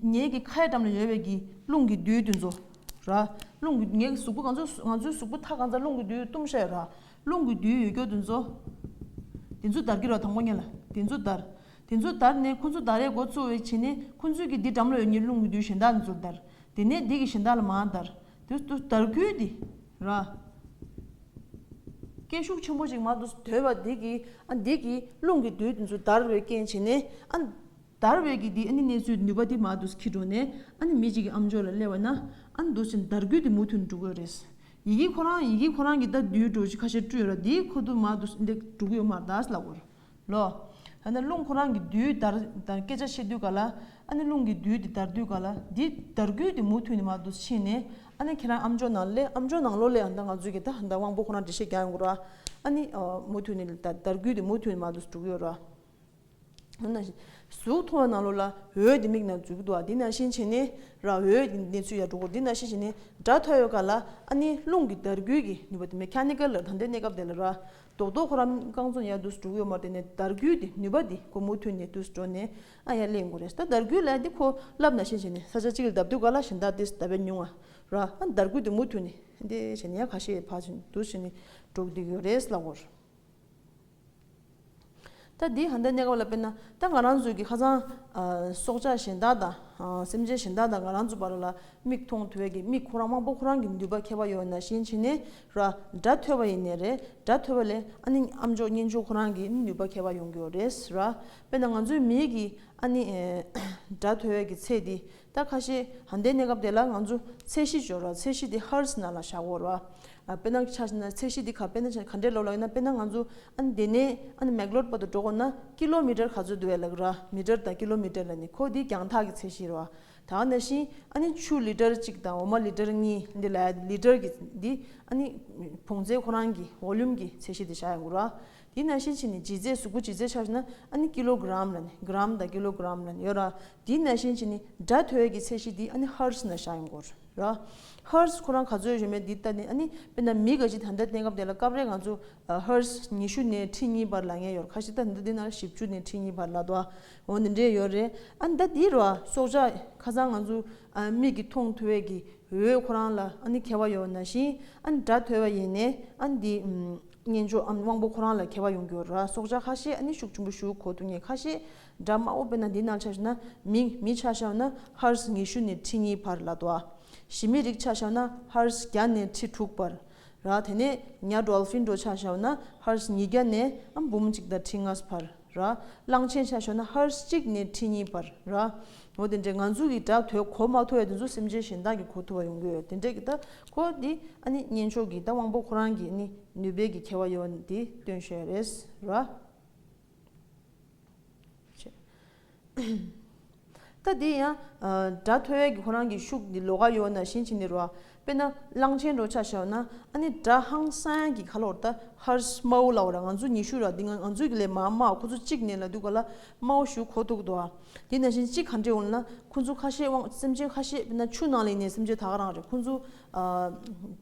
ངེད་ཀྱི་ཁའི་འགྲམ་ལ་ཡོད་བས་ཀྱི་རླུང་གི་བདུད་དུ་འཛུལ། ར། རླུང་གི་ངེད་ཀྱི་གཟུགས་པོ་གང་ཚོད་ང་ཚོའི་གཟུགས་པོ་ཐག་གང་ཚ་རླུང་གི་བདུད་དུ་གཏུམས་ཤས་ར། རླུང་གི་རྡུལ་ཡོད་སྐྱོ་དེ་ཚོ། དེ་ཚོ་འདར་གྱི་རོ་དང་པོ་གཉིས་ལ་དེ་ཚོ་འདར། དེ་ཚོ་འདར་ནས་ཁོ་ཚོ་འདར་རའི་འགོ་གཙོ་བའི་བྱེད་ནི་ཁོ་ཚོས་ཀྱི་འདི་འགྲམ་ལ་ཡོད་ཉིད་རླུང་གི་རྡུལ་གཞན་དག་འདི་ཚོར་འདར། དེ་ནས་འདི་གི་གཞན་དག་ལ་མ་འདར། དེ་ཚོ་འདར་ཁུལ་འདི་ར། སྐད་ཤུགས་ཆེན་པོ་ཅིག་མ་དུ་དོད་པ་འདི་གི་ཨ་འདི་གི་རླུང་གི་རྡུལ་དེ་ཚོ་འདར་བའི་རྐྱེན་བྱེད་ནི་ཨ། འདར་བའི་གི་འདི་ཨ་ནི་གནས་ཚུལ་ནུས་པ་འདི་མ་དུ་ཁྱི་འགྲོ་ནས་ཨ་ནི་མི་གཅིག་གི་ཨམ་ཅོག་ལ་སླེབས་པ་ན་ཨ་འདུ་བྱེད་འདར་ཁུལ་འདི་མུ་མཐུད་འགྲོ་དགོས་རེད། ཡི་གེ་ཁོ་རང་ཡི་གེ་ཁོ་རང་གི་ལྟ་དུས་གྲོ་བཞི་ཁ་ཤས་བཀྲུས་ལ་དེའི་ཁུ་དུ་མར་དུ་འདེགས་དྲུག་ཡོ་མར་དར་ལ་བོར། ལོ། ཨ་ནི་རླུང་ཁོ་རང་གི་དུས་དར་དར་སྐད་ཆ་བཤད་དུས་ག་ལ། ཨ་ནི་རླུང་གི་དུས་དེ་དར་དུས་ག་ལ་དེ་དར་དགུས་དེ་མུ་མཐུད་ནས་མར་དུ་ཕྱིན་ནས་ཨ་ནི་ཁྱེད་རང་ཨམ་ཅོག་ནང་ལས་ཨམ་ཅོག་ནང་ལོ་ལས་ཨ་ད་ང་ཚོའི་གི་ད་ད་དབང་པོ་ཁོ་རང་འདྲི་བཤད་རྒྱག་ཡོང་གི་རོ། ཨ་ནི་མུ་མཐུད་ནས་དར་དར་དགུས་དེ་མུ་མཐུད་ནས་མར་དུ་དྲུག་ཡོ་རོ། གཟུགས་མཐོང་བ་ན་ལོ་ལ་འོད་དེ་མིག་ན་འཛུལ་དུ་འདི་ན་བཞིན་བྱས་ནས་ར་འོད་དེ་ཚུལ་ཡར་འགྲོ་འཁོར་འདི་ན་བཞིན་བྱས་ནས་སྒྲ་ཐོས་ཡོད་ག་ལ་ཨ་ནི་རླུང་གི་དར་རྒུད་ཀྱིས་ནུས་པ་དེ་མེ་ཁྱ་ནི་ཀ་ལ་ད་འདི་གནས་སྐབས་དེ་ལ་ར་རྡོག་རྡོག་ཁོ་རམ་རྐང་ཚོ་ཡར་དུས་སུ་འགྲོ་གི་ཡོད་མ་དེ་ནས་དར་རྒུད་དེ་ནུས་པ་དེ་ཁོ་མུ་མཐུད་ནས་དུས་སུ་འགྲོ་ནས་ཨ་ཡར་སླེབས་འགོ་རེད་ད་དར་རྒུད་ལ་འདི་ཁོ་རླབས་ན་བཞིན་བྱས་ནས་ས་ཆ་གཅིག་ལ་ལྡབ་འདུག་ག་ལ་གཞན་དག་དེ་ལྟ་བས་ཉུང་ང་ར་ཨ་དར་རྒུད་དེ་མུ་མཐུད་ནས་འདི་བྱས་ནས་ཡར་ཁ་ཤས་བར་བཞིན་དུས་བྱས་ནས་འགྲོ་གི་འདུག་ཡོད་རེད་ལ་འོར། ད་འདི་ཧ་འདི་གནས་སྐབས་ལ་དཔེར་ན་ད་ང་རང་ཚོས་ཀྱི་ཁ་ཚང་སྲོག་ཆགས་གཞན་དག་དང་སེམས་ཅན་གཞན་དག་དང་ང་རང་ཚོ་བར་ལ་མིག་མཐོང་དུས་ཀྱི་མིག་ཁོ་རང་དབང་པོ་ཁོ་རང་གི་མདུད་པ་ཁ་བ་ཡོད་ན་བཞིན་བྱེད་ནས་ར་སྒྲ་ཐོས་པ་ཡིན་ནས་རེད་སྒྲ་ཐོས་པ་ལས་ཨ་ནི་ཨམ་ཅོག་གཉེན་ཅོག་ཁོ་རང་གི་མདུད་པ་ཁ་བ་ཡོང་གི་ཡོད་རེད་ར་དཔེར་ན་ང་ཚོའི་མིག་གིས་ཨ་ནི་སྒྲ་ཐོས་ཀྱི་ཚེ་འདི་ད་ཁ་ཤས་ཧན་ཏའི་གནས་སྐབས་དེ་ལ་ང་ཚོ་ཚད་གཞི་སྦྱོར་བ་ཚད་གཞི་དེ Hertz ནང་ལ་བཞག་དགོས་རོ། དཔེར་ན་ཆ་ན་ཚད་གཞི་དེ་ག་དཔེ་ན་ཆ་ན་ག་འདྲའི་ལོ་ལ་ཡོད་ན་དཔེར་ན་ང་ཚོ་ཨ་ནི་དེ་ནས་ཨ་ནི Meglort བར་དུ་འགྲོ་དགོས་ན་ཀི་ལོ་མི་ཀྲར་ག་ཚོད་འདུག་ཡ་ལག་ར་མི་ཀྲར་དང་ཀི་ལོ་མི་ཀྲར་ལ་ནི་ཁོ་དེའི་རྒྱང་ཐག་གི་ཚད་གཞི་རོ། ད་ང་ན་བཞིན་ཨ་ནི་ཆུ་ལི་ཀྲར་གཅིག་དང་འོ་མ་ལི་ཀྲར་གཉིས་འདི་ལ་ཡ་ལི་ཀྲར་གྱི་འདི་ཨ་ནི་བོངས་ཚད་ཁོ་རང་གི Volume གྱི་ཚད་གཞི་དེ་བཞག་ཡོང་དགོས་རོ། དེའི་ན་བཞིན་ཕྱིན་ནི་ལྗིད་ཚད་གཟུགས་པོ་ལྗིད་ཚད་ཆ་ན་ཨ་ནི་ཀི་ལོ་གི་རམ་ལ་ནི Gram དང་ཀི་ལོ་གི་རམ་ལ་ནི་ཡོད་ར་དེའི་ན་ཤན་གྱི་ནི་སྒྲ་ཐོས་ཀྱི་ཚད་གཞི་དེ་ཨ་ནི Hertz ན་བཞག་ཡོང་གོར་ར། Hertz ཁོ་རང་ག་ཚོད་བཞོན་པའི་དེ་ལྟ་ནི་ཨ་ནི་དཔེར་ན་མི་ག་ཅིག་ད་ལྟ་བསྟན་སྐབས་དེ་ལ་སྐབས་རེ་ང་ཚོ Hertz ཉི་ཤུ་ནས་ཁྲི་གཉིས་བར་ལ་ངེས་ཡོར་ཁ་ཞིག་ད་ལྟ་འདི་ན་བཞི་བཅུ་ནས་ཁྲི་གཉིས་བར་ལ་དོ་འོ་འདི་འདྲའི་ཡོར་རེད་ཨ་ནི་ད་དེའི་རོ་སྲོག་ཆགས་ཁ་ཚང་ང་ཚོ་མིག་གི་མཐོང་ཐོས་ཀྱི་འོད་ཁོ་རང་ལ་ཨ་ནི་ཁེལ་བ་ཡོར་ན་བཞིན་ཨ་ནི་སྒྲ་ཐོས་བ་ཡིན་ནས་ཨ་ནི་དེའི་གཉེན་ཆོག་དབང་པོ་ཁོ་རང་ལ་ཁེལ་བ་ཡོང་གི་ཡོར་ར་སྲོག་ཆགས་ཁ་ཤས་ཨ་ནི་ཤུགས་ཆེན་པོ་ཞུགས་གོ་ཐུག་ངེས་ཁ་ཤས་སྒྲ་མང་བོ་དཔེར་ན་འདི་རྣམས་ཆ་ཞུ་ན་མིང་མི་ཆ་ཤའོ་ན་ཧརྞ་ཉི་ཤུ་ནས་ཁྲི་གཉིས་བར་ལ་དོ། ཞི་མི་རིགས་ཆ་ཤའོ་ན་ཧརྞ་བརྒྱ་ནས་ཁྲི་དྲུག་བར་ར་དེ་ནས་ཉྭ Dolphin འགྲོ་ཆ་ཤའོ་ན་ཧརྞ་ཉིས་བརྒྱ་ནས་འབུམ་གཅིག་དང་ཁྲི་ལྔ་བར་ར། གླང་ཆེན་ཆ་ཤའོ་ན་ཧརྞ་གཅིག་ནས་ཁྲི་གཉིས་བར་ར། འོ་དེ་འདྲའི་ང་ཚོ་གི་སྒྲ་ཐོས་གོ་མ་ཐོས་ཡ་དེ་ཚོ་སེམས་ཅན་གཞན་དག་གི་གོ་ཐོས་བ་ཡོང་གི་ཡོད་དེ་འདྲའི་གི་ད་ཁོ་འདི་ཨ་ནི་གཉེན་མཆོག་གི་ད་དབང་པོ་ཁོ་རང་གི་ནི་ནུས་པའི་གི་ཁྱད་བ་ཡོད་བ་འདི་སྟོན་ཤོད་རེད་ར། ད་འདི་ཡང་སྒྲ་ཐོས་ཡས་ཀྱི་ཁོ་རང་གི་ཤུགས་འདི་ལོ་ག་ཡོད་ན་བཞིན་བྱེད་འདི་རུ་ཨ། དཔེར་ན་གླང་ཆེན་འགྲོ་ཆགས་ཤོར་ན་ཨ་ནི་སྒྲ་ཧང་སངས་ཀྱི་ཁ་ལོར་ད་ཧར་སྨའུ་ལའོ་ར་ང་ཚོ་ཉི་ཤུ་ར་འདི་ང་ང་ཚོའི་གི་ལས་མ་མ་ཨ་ཁོ་ཚོ་གཅིག་ནས་ལ་འདུག་ག་ལ་སྨའུ་ཞུ་ཁོ་ཐུག་དོ་ཨ། དེ་ན་བཞིན་གཅིག་ག་འདྲེ་འོང་ན་ཁོ་ཚོ་ཁ་ཤས་དབང་སེམས་ཅན་ཁ་ཤས་དཔེར་ན་ཆུ་ནང་ལ་ཡིན་ནས་སེམས་ཅན་དག་རང་རེད་ཁོ་ཚོ་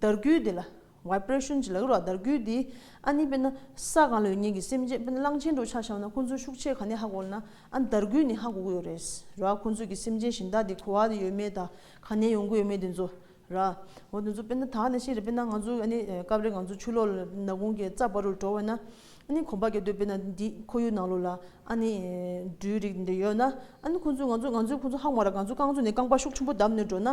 དར་རྒུད་དེ་ལ Vibration། ཅེས་ལག་རོགས་བརྡར་བསྐུལ་དེ། ཨ་ནི་དཔེར་ན། ས་གང་ལོས་ཉེས་ཀྱི་སེམས་ཅན་དཔེར་ན་གླང་ཆེན་འབྲུག་ཆགས་བྱམས་ན་ཁོ་ཚོའི་ཤུགས་ཆེ་ག་ནས་ཧ་གོ་ན། ཨ་ནི་བརྡར་བསྐུལ་ནི་ཧ་གོ་གི་ཡོད་རེད། ར་ཨ་ཁོ་ཚོས་ཀྱི་སེམས་ཅན་གཞན་དག་དེ་གོ་བ་ཡོད་མེད་དང་ག་ནས་ཡོང་གི་ཡོད་མེད་དེ་ཚོ། ར་ཨ། འོ་དེ་ཚོ་དཔེར་ན་ད་ནི་ཤེས་རེད་དཔེར་ན་ང་ཚོ་ཨ་ནི་སྐབས་རེ་ང་ཚོ་ཆུ་ལོག་ལ་ནག་ཁུང་གི་རྩ་བར་རུ་འགྲོ་བས་ན། ཨ་ནི་གོམ་པ་ག་དུས་དཔེར་ན་འདི་ཁོར་ཡུག་ནང་ལོགས་ལ་ཨ་ནི་འབྲུའི་རིགས་འདི་ཡོད་ན། ཨ་ནི་ཁོ་ཚོས་ང་ཚོ་ང་ཚོས་ཁོ་ཚོ་ཧ་གོ་མ་ར་ང་ཚོ་རྐང་ཚུགས་ནས་རྐང་པ་ཤུགས་ཆེན་པོ་བརྡབས་ནས་འགྲོ་ན།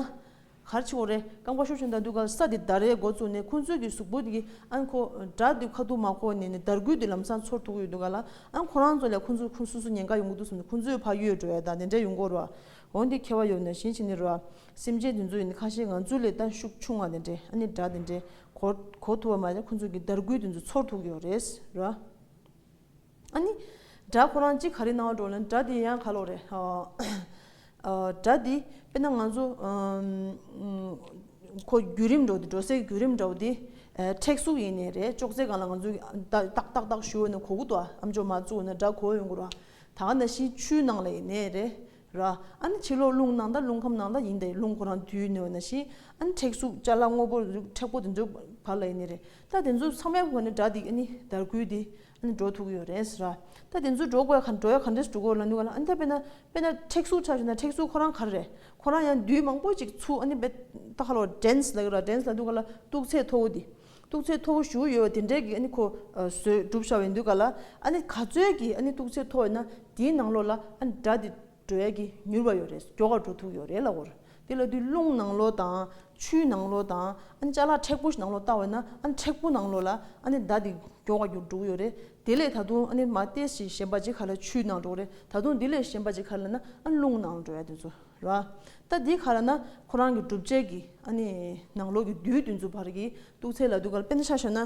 གར་ཆེ་བོ་རེ་ཀ་མགོ་ཤོར་བྱུང་ད་དུས་ག་ལ་ས་དེ་ད་རེའི་འགོ་བཙུགས་ནས་ཁོང་ཚོའི་གི་གཟུགས་པོ་གི་ཨན་ཁོ་དྲ་དུས་ཁ་ཐུག་མ་ཁོ་ནས་ནས་དར་གུད་དུས་ལམ་སང་ཚོར་ཐུག་ཡོད་དུས་ག་ལ་ཨན་ཁོ་རང་ཚོ་ལས་ཁོང་ཚོ་ཁོང་སུ་སུ་ཉེན་ཁ་ཡོང་གི་འདུག་སམ་ཁོང་ཚོའི་ཕ་ཡུལ་རོའི་དང་དེ་འདྲ་ཡོང་གོ་རོ་འོན་ཏེ་ཁེ་བ་ཡོད་ནས་གཞན་ཞིག་ནི་རོ་ཨ་སེམས་ཅན་དེ་ཚོ་ཡིན་ནི་ཁ་ཤས་ང་ཚོའི་ལས་ལྟ་ཤུགས་ཆུང་བ་དེ་འདྲས་ཨ་ནི་དྲ་དེ་འདྲས་གོ་གོ་ཐུག་བ་མ་རེད་ཁོང་ཚོའི་གི་དར་གུད་དེ་ཚོ་ཚོར་ཐུག་ཡོད་རེད་རོ་ཨ། ཨ་ནི། དགྲ་ཁོ་རང་གཅིག་ག་རེ་གནང་བ་འགྲོ་ན་དགྲ་དེ་ཡང་ག་ལོག་རེད། དགྲ་དེ་དཔེར་ན་ང་ཚོ། ཁོ་བརྒྱུད་རིམ་འགྲོ་དེ་འགྲོ་སའི་བརྒྱུད་རིམ་འདྲ་བོ་དེ། མཁྲེགས་གཟུགས་ཡིན་ནི་རེད་ཅོག་ཙེ་གང་ལ་ང་ཚོ་ཏག་ཏག་ཏག་ཏག་ཞུ་འོ་ན་གོ་གུ་དོག་ཨམ་ཅོག་མ་བཙུགས་འོ་ན་དགྲ་གོ་འོས་འགོ་ར། ད་ག་ན་གཞིས་ཆུའི་ནང་ལ་ཡིན་ནི་རེད་ར། ཨ་ནི་ཕྱི་ལོག་རླུང་ནང་ད་རླུང་ཁམས་ནང་ད་ཡིན་ད་རླུང་ཁོ་རང་དུས་ནི་འོ་ན་གཞིས་ཨ་ནི་མཁྲེགས་གཟུགས་ལྕ་ལག་སྔོ་པོ་མཁྲེགས་པོ་དེ་ཚོའི་བར་ལ་ཡིན་ནི་རེད་ད་དེ་ཚོ་ཚང་མའི་བར་ནི་དགྲ་དེ་ཨ་ནི་དར་གུད་དེ་ནི་འགྲོ་ཐུག་ཡོད་རེད་ཟེར། ད་དེ་ཚོ་འགྲོ་དགོས་འགྲོ་ཡ་ག་འདྲས་འགྲོ་དགོས་ལ་ནུས་ལ་ཨ་འདས་པས་ན་པས་ན་མཁྲེགས་གཟུགས་ཆགས་ཞེ་ན་མཁྲེགས་གཟུགས་ཁོ་རང་ག་རེ་རེད་ཁོ་རང་ཡང་དུས་མང་པོ་ཅིག་ཚུགས་ཨ་ནི་པས་ད་ཧ་ལོ་འགྲན་ལ་གི་ར་འགྲན་ལ་འདུག་ག་ལ་སྟུག་ཚད་མཐོ་བོ་འདི་སྟུག་ཚད་མཐོ་བོ་ཞུ་ཡོད་དེ་འདྲས་ཀྱི་ཨ་ནི་ཁོ་བཟོས་གྲུབ་བཞག་ཡོད་འདུག་ག་ལ་ཨ་ནི་ག་ཚོད་ཀྱི་ཨ་ནི་སྟུག་ཚད་མཐོ་བས་ན་དེའི་ནང་ལོགས་ལ་ཨ་ནི་དགྲ་དེ། འགྲོ་ཡ་གི་མྱུར་བ་ཡོ་རེད་སོ་གྱོ་ག་འགྲོ་ཐུག་ཡོ་རེད་ལ་འོར་དེ་ལ་དུས་རླུང་ནང་ལོ་དང་ཆུའི་ནང་ལོ་དང་ཨ་ཅག་ལ་མཁྲེགས་པོ་ཞིག་ནང་ལོ་བཏང་བས་ན་ཨ་མཁྲེགས་པོ་ནང་ལོ་ལ་ཨ་ནི་ཟླ་དེ་གྱོ་ག་རྒྱུ་འགྲོ་གི་ཡོ་རེད་དེ་ལས་ད་དུང་ཨ་ནི་མ་ཏེས་ཀྱི་གཞན་པ་ཅིག་ཁ་ལ་ཆུའི་ནང་འགྲོ་གི་རེད་ད་དུང་དེ་ལས་གཞན་པ་ཅིག་ཁ་ལ་ན་ཨ་རླུང་ནང་ལ་འགྲོ་ཡ་དེ་ཚོ་ར་ད་དེ་ཁ་ལ་ན་ཁོ་རང་གི་སྒྲུབ་བྱེད་ཀྱི་ཨ་ནི་ནང་ལོ་གི་བདུད་དེ་ཚོ་བར་གྱི་སྟུག་ཚད་ལ་དུས་ག་ལ་དཔེ་ན་ཆ་ཤོ་ན།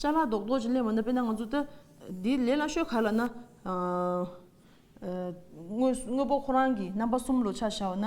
ལྕགས་ལ་རྡོག་རྡོག་ཅིག་སླེབས་འོང་ན་དཔེར་ན་ང་ཚོ་ལྟ་འདིའི་ལས་སླ་ཤོས་ག་ལ་ན། དངོས་དངོས་པོ་ཁོ་རང་གི་རྣམ་པ་གསུམ་ལོ་ཆ་བྱའོ་ན།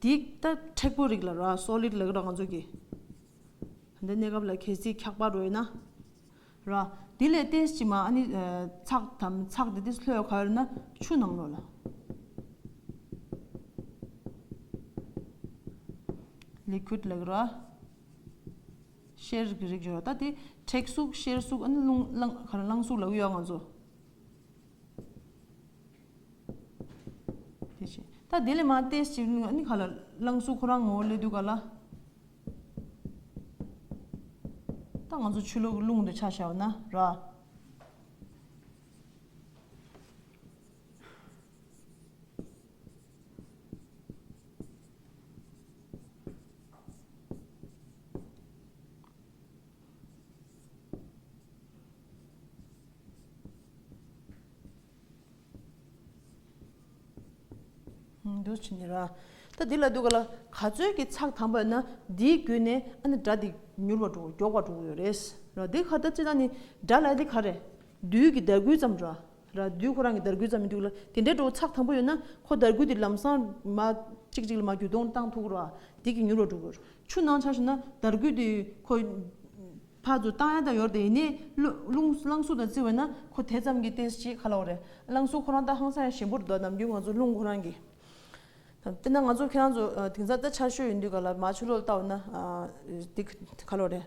འདི་ལྟ་མཁྲེགས་པོ་རིགས་ལ་རོ Solid ལ་ང་ཚོ་གི། འདི་གནས་སྐབས་ལ་གལ་སྲིད་འཁྱགས་པ་རོལ་ན། རོ། དེ་ལས་ཏེ་ཕྱི་མ་ནི་ཚགས་དམ་ཚགས་དེ་དེ་ལྷོད་ཁ་ན་ཆུ་ནང་རོ་ལ། Liquid ལ་རོ། གཤེར་གྱི་རིགས་ཞེས་པ་ད་དེ་མཁྲེགས་གཟུགས་གཤེར་གཟུགས་ཨ་ནི་རླུང་ཁ་ན་རླངས་གཟུགས་ལ་གཡོ་ང་ཚོ། དེ་བཞིན་ད་དེ་ལས་མ་ཏེ་ཞེས་བྱ་བ་ནི་ག་ལ། བླངས་གཟུགས་ཁོ་རང་ངོ་བོ་ལས་དུས་ག་ལ། ད་ང་ཚོ་ཆུ་ལོག་གི་རླུང་དུ་ཆ་བྱ་བ་ན་ར། འདུལ་བྱེད་ནི། ད་འདི་ལ་འདུལ་ག་ལ་ག་ཚོད་ཀྱི་ཚགས་དམ་པ་ན་འདིའི་རྒྱུད་ནས་ཨ་ནི་སྒྲ་འདི་མྱུར་བར་འགྲོ་མགྱོགས་པར་འགྲོ་གི་ཡོད་རེད། འདི་ག་ད་ཅི་ད་ནི་སྒྲ་ལ་འདི་ག་རེད། རྡུལ་གྱི་ཟླ་གུད་ཙམ་རེད། ར་དུས་ཁོ་རང་གི་དར་རྒུད་ཙམ་མི་འདུག་ལ་དེ་འདྲའི་འགྲོ་བ་ཚགས་དམ་པོ་ཡོད་ན་ཁོ་དར་རྒུད་དེ་ལམ་སང་མ་གཅིག་གཅིག་ལ་མ་བརྒྱུད་གཏོང་བཏང་ཐུག་རོགས་ཨ་དེ་གི་མྱུར་བར་འགྲོ་དགོས། ཆུ་ནང་ཆགས་ཤིག་ན་དར་རྒུད་དེ་ཁོ་ཕར་ཚུར་བཏང་ཡ་ད་ཡོར་དེ་ཡིན་ནས་རླུང་རླངས་གཟུགས་དང་བརྩི་བས་ན་ཁོ་དེ་ཙམ་གྱི་བསྟན་སྲིད་ཅིག་ག་ལ་བ་རེད་རླངས་གཟུགས་ཁོ་རང་ལྟ་ཧང་སང་ཡང་ཞིམ་པོར་འདུག་ཨ་ནམ་རྒྱུན་ང་ཚོ་རླུང་ཁོ་རང་གི་དཔེར་ན་ང་ཚོ་ཁྱེད་རང་ཚོ་དེང་སང་ལྟ་ཆར་ཞོད་ཡིན་དུས་ག་ལ་མ་ཆུ་ལོག་ལྟ་བ་ན་དེ་ག་ལ་བ་རེད།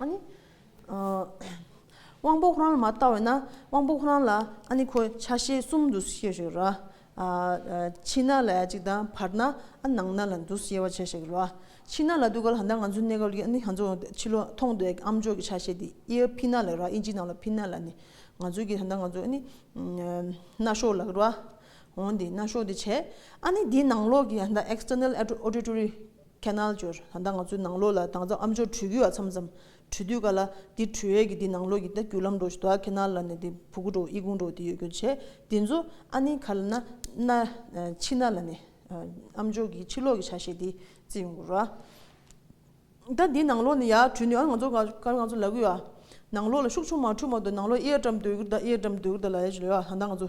ཨཱ་ནི། དབང་པོ་ཁོ་རང་ལ་མ་བཏགས་བས་ན་དབང་པོ་ཁོ་རང་ལ་ཨཱ་ནི་ཁོ་ཆ་ཤས་གསུམ་འདུ་ཤེས་ཤིག་ར། ཕྱི་ན་ལ་ཡ་གཅིག་དང་བར་ན་ཨ་ནང་ན་ལ་འདུ་ཤེས་པ་བྱས་ཤིག་ར། ཕྱི་ན་ལ་འདུག་ག་ལ་ད་ལྟ་ང་ཚོའི་གནས་སྐབས་ཀྱི་ཨཱ་ནི་ང་ཚོ་ཕྱི་ལོ་མཐོང་བསྡད་ཀྱི་ཨམ་ཅོག་གི་ཆ་ཤས་དེ་ཨི་ཨ་ཕི་ན་ལ་ར་ཨི་ཇི་ནང་ལ་ཕི་ན་ལ་ནི་ང་ཚོའི་གི་ད་ལྟ་ང་ཚོ་ཨཱ་ནི་རྣ་གཤོག་ལགས་ར། འོན་ཏེ་རྣ་གཤོག་དེ་བྱས་ཨཱ་ནི་དེའི་ནང་ལོགས་ཀྱི་ད་ལྟ External Auditory། ཁས་ནལ་འབྱོར། ད་ང་ཚོའི་ནང་ལོགས་ལ་དྭངས་གཙང་ཨ་མཆོག་བྲུས་གུ་ཡ་མཚམས་མཚམས་བྲུས་དུས་ག་ལ་འདི་བྲུས་ཡས་ཀྱི་འདི་ནང་ལོགས་ཀྱི་ད་རྒྱུ་ལམ་འགྲོ་ཞིག་དོ་ཁས་ནལ་ལ་ནས་འདི་བུ་གུ་འགྲོ་དབྱི་གུང་འགྲོ་འདི་ཡོད་རྒྱུ་བྱས་འདི་ཚོ་ཨ་ནི་ག་ལ་ན་ན་ཕྱི་ན་ལ་ནས་ཨ་མཆོག་གི་ཕྱི་ལོགས་ཀྱི་ཆ་ཤས་འདི་བརྩི་ཡོང་དགོས་ར། ད་འདི་ནང་ལོགས་ནས་ཡ་བྲུས་ནས་ཨ་ང་ཚོ་ག་ལ་ང་ཚོ་ལ་གུ་ཡ། ནང་ལོགས་ལ་ཤུག་ཆུང་མ་འཕྲུས་མ་དོ་ནང་ལོགས་ཨི་ཡ་བཀྲམ་སྡོད་གུ་ད་ཨི་ཡ་བཀྲམ་སྡོད་གུ་ད་ལ་ཡ་ཞིག་ལོས་ཡ་ད་ང་ཚོ་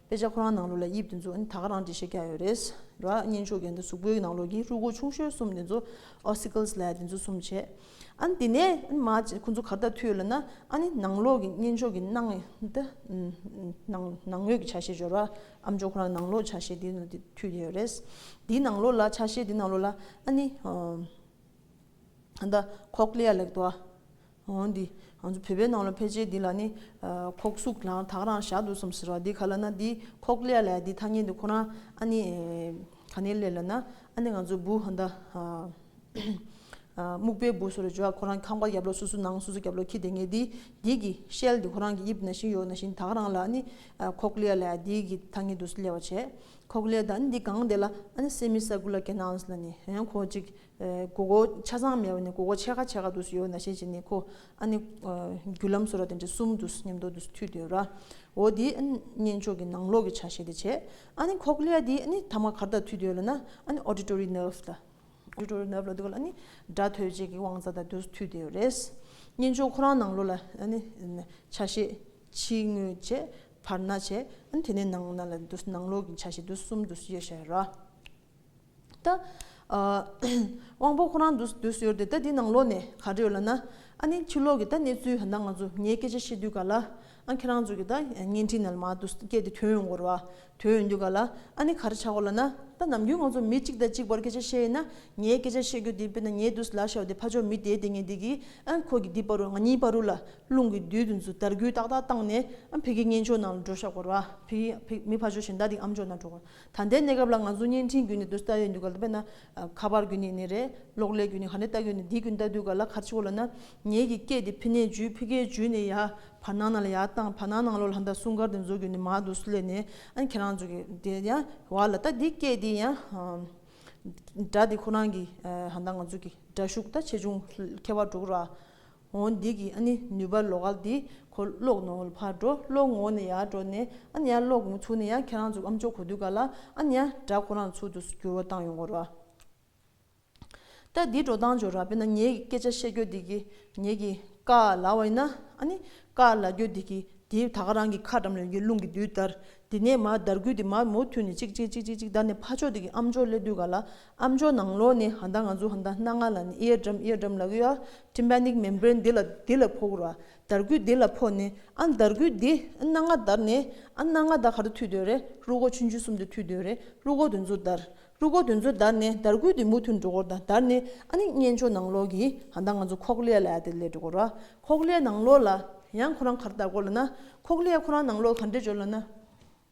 དཔེ་ཆ་ཁོ་རང་ནང་ལོགས་ལ་དབྱིབས་དེ་ཚོ་ད་ག་རང་འབྲི་ཤེས་ཀྱ་ཡོད་རེད། ར་གཉན་ཆུ་རྒན་དང་གཟུགས་པོའི་ནང་ལོགས་ཀྱི་རུས་སྒོ་ཆུང་ཤོས་གསུམ་དེ་ཚོ Ossicles ལས་དེ་ཚོ་གསུམ་བྱས། ཨ་ནི་དེ་ནས་མ་ཁོ་ཚོ་གར་ལྟ་ཐུལ་ལ་ན་ཨ་ནི་ནང་ལོགས་ཀྱི་གཉན་ཆུ་གི་ནང་ངོས་ཀྱི་ཆ་ཤས་སྦྱོར་བ་ཨམ་ཅོག་ཁོ་རང་ནང་ལོགས་ཆ་ཤས་དེ་ནང་དེ་ཐུལ་ཀྱ་ཡོད་རེད། དེའི་ནང་ལོགས་ལ་ཆ་ཤས་དེ་ནང་ལོགས་ལ་ཨ་ནི Cochlea ལེགས་དོ། འོན་ཏེ། ང་ཚོ་བོད་པའི་ནང་ལ་ཕལ་ཆེར་འདི་ལ་ནི། ཁོག་སུག་ལང་དྭགས་རང་ཞག་འདུག་སམ་ཟེར་བ་འདི་ག་ལ་ན་འདི་ཁོག་ཀླད་ལ་ཡ་འདི་ཐ་སྙད་འདི་ཁོ་རང་ཨ་ནི། ག་ནས་སླེབས་ལ་ན་ཨ་ནི་ང་ཚོ་བུ་ཧ་འདའ། སྨུག་པའི་བུ་སོ་རེ་བརྗོད་ཨ་ཁོ་རང་ཁང་པ་རྒྱབ་ལོགས་སོ་སོ་ནང་སོ་སོ་རྒྱབ་ལོགས་ཁྱི་དེ་ངས་འདི་འདི་གི་ཤེལ་འདི་ཁོ་རང་གི་དབྱིབས་ན་ཞིང་ཡོག་ན་ཞིང་དྭགས་རང་ལ་ཨ་ནི། ཁོག་ཀླད་ལ་ཡ་འདི་གི་ཐ་སྙད་འདུག་སླེབས་བ་བྱས། ཁོག་ཀླད་དང་ཨ་ནི་འདི་གང་འདི་ལ་ཨ་ནི་སེ་མི་སཱ་ཀུ་ལ་ཀེ་ནཱལ་ལ་ནི་ཧན་ཁོ་ཅིག་གོ་གོ་ཆ་ཚང་མེད་པ་ནི་གོ་གོ་ཕྱེད་ཀ་ཕྱེད་ཀ་འདུག་ཡོད་ན་ཤེས་བྱས་ནི་གོ། ཨ་ནི། རྒྱུ་ལམ་སོ་ར་དེ་འདྲ་གསུམ་འདུག་སྙམ་དུ་འདུག་ཐུས་དེ་ར། འོ་དེ་གཉེན་ཕྱོགས་ཀྱི་ནང་ལོགས་ཀྱི་ཆ་ཤས་དེ་བྱས། ཨ་ནི་ཁོག་ལེ་ཡ་དེ་ནི་ཐ་མ་གར་དག་ཐུས་དེ་ཡོད་ལ་ན་ཨ་ནི auditory nerve ལ། auditory nerve ལ་འདུག་ག་ལ་ཨ་ནི་སྒྲ་ཐོས་བྱེད་ཀྱི་དབང་རྩ་དག་འདུག་ཐུས་དེ་ཡོད་རེད། གཉེན་ཕྱོགས་ཁོ་རང་ནང་ལོགས་ལ་ཨ་ནི་ཆ་ཤས་ཕྱི་ངོས་བྱས་བར་ན་བྱས་ཨ་ནི་དེ་ནས་ནང་ན་ལ་འདུག་ནང་ལོགས་ཀྱི་ཆ་ཤས་འདུག་གསུམ་འདུག་ཤེས་བྱས་ར། ད། དབང་པོ་ཁོ་རང་དུ་སུ་ཡོད་དེ་ད་དེ་ནང་ལོགས་ནས་ག་རེ་ཡོད་ལ་ན། ཨ་ནི་ཕྱི་ལོགས་ཀྱི་ད་གནས་ཚུལ་ད་ང་ཚོ་ངའི་སྐད་ཆ་བཤད་དུས་ག་ལ། ཨ་ཁྱེད་རང་ཚོ་གི་ད་བརྙན་འཕྲིན་ནལ་མ་དུ་སྐད་དེ་དོན་ཡོང་གོ་རོ་ཨ། དོན་ཡོང་དུས་ག་ལ། ཨ་ནི་ག་རེ་བྱ་གོ་ལ་ན། ད་ནམ་རྒྱུན་ང་ཚོ་མི་གཅིག་དང་གཅིག་བར་སྐད་ཆ་བཤད་ཡིན་ན་ངའི་སྐད་ཆ་བཤད་དགོས་དེ་དཔེར་ན་ངའི་དུ་ལ་ཤའོ་དེ་ཕ་ཆོ་མི་དེའི་དེ་ངས་འདི་གི་ཨ་ཁོ་གི་འདི་པར་རུ་ང་གཉིས་པར་རུ་ལ་རླུང་གི་རྡུལ་དུ་འཛུལ་དར་གུད་ཏག་ཏག་བཏང་ནས་ཨ་ཕི་གི་གཉེན་ཕྱོགས་ནང་ལ་འགྲོ་ཤག་གོ་རོ་ཨ་ཕི་མི་ཕ་ཆོ་གཞན་དག་དེ་ཨམ་ཅོག་ནང་འགྲོ་གོ་རོ། ད་ལྟའི་གནས་སྐབས་ལ་ང་ཚོ་བརྙན་འཕྲིན་བརྒྱུད་ནས་སྡོད་ས་ཡོད་འདུག་ག་ལ་དཔེར་ན། ཁ་པར་བརྒྱུད་ནས་ནི་རེད། གློག་ཀླད་བརྒྱུད་ནས་ཧ་ནི་ལྟ་དགོས་ནི་འདི་བརྒྱུད་ལྟ་དུས་ག་ལ་གར་ཆི་གོ་ལ་ན། ངེད་ཀྱི་སྐད་དེ་ཕི་ནས་བརྒྱུད་ཕི་གས་བརྒྱུད་ནས་ཡ། བར་སྣང་ན་ལ་ཡ་བཏང་བར་སྣང་ནང་ལོག་ལ་ལྷ་འདར་སྲུང་སྐར་དེ་འཛུགས་དགོས་ནི་མ་འདུག་སུ་ལས་ནི། ཨ་ཁྱེད་རང་ཚོ་གི་དེ་ཡ། བ་ལ་ལྟ་འདི་སྐད་དེ་ཡ། སྒྲ་དེ་ཁོ་རང་གི་ཧ་ན་ང་ཚོ་གི་སྒྲ་ཤུགས་ད་ཆེ་ཆུང་ཁྱད་པར་འགྲོ་གི་ར། ངོ་འདི་གི་ཨ་ནི་ནུས་པ་ལོག་ཨ་འདི་ཁོ་ལོག་ནོ་ལ་ཕར་འགྲོ་ལོག་ངོ་ནི་ཡ་འགྲོ་ནས་ཨ་ནི་ཡ་ལོག་ངོ་ཚུགས་ནས་ཡ་ཁྱེད་རང་ཚུགས་ཨམ་ཅོག་གོ་དུས་ག་ལ་ཨ་ནི་ཡ་སྒྲ་ཁོ་རང་ཚུགས་དུ་འགྱུར་བ་བཏང་ཡོང་གོ་ར། ད་འདི་འགྲོ་སྟངས་འཇོག་ར་བས་ན་ངེད་ཀྱི་སྐད་ཆ་བཤད་རྒྱོ་འདི་གི་ངེད་ཀྱི་ཀ་ལ་བ་ཡིན་ན་ཨ་ནི་ཀ་ལ་རྒྱོ་འདི་གི་དེའི་ད་ག་རང་གི་ཁ་འགྲམ་ལ་ཡོང་གི་རླུང་གི་དུས་ལྟར་འདི་ནས་མ་འདར་ཁུལ་དེ་མ་མོ་ཐུལ་ནས་ཅིག་ཅིག་ཅིག་ཅིག་ཅིག་འདར་ནས་ཕ་ཕྱོགས་འདི་གི་ཨམ་ཅོག་སླེབས་དུས་ག་ལ་ཨ་མཆོག་ནང་ལོགས་ནས་ཧ་མདའ་ང་ཚོ་ཧ་མདའ་སྣ་ལྔ་ལ་ནི་ཨི་ཡ་འགྲམ་ཨི་ཡ་འགྲམ་ལ་གུ་ཡ། Tympanic Membrane འདི་ལ་འདི་ལ་ཕོག་ར། འདར་སྐུད་འདི་ལ་ཕོག་ནས་ཨ་འདར་སྐུད་འདི་ཨ་སྣ་ལྔ་འདར་ནས་ཨ་སྣ་ལྔ་འདར་ག་རུ་མཐུད་འདོད་རེད་ཀླུ་སྒོག་ཆུན་ཆུན་གསུམ་དུ་མཐུད་འདོད་རེད་ཀླུ་སྒོག་དུད་འཛོ་འདར། ཀླུ་སྒོག་དུད་འཛོ་འདར་ནས་འདར་སྐུད་འདི་མུ་མཐུད་འགྲོ་གོ་ར་འདར་ནས་ཨ་ནི་གཉེན་མཆོག་ནང་ལོགས་ཀྱི་ཧ་མདའ་ང་ཚོ་ཁོག་ལེ་ལ་ཡ་དེ་ལས་འགྲོ་གོ་ར། ཁོག་ལེ་ནང་ལོགས་ལ་ཡང་ཁོ་རང་གར་ལྟ་གོ་ལ་ན། ཁོག་ལེ་ཡ་ཁོ་རང་ནང་ལོགས་ག་འདྲེ་འཇོ་ལ་ན།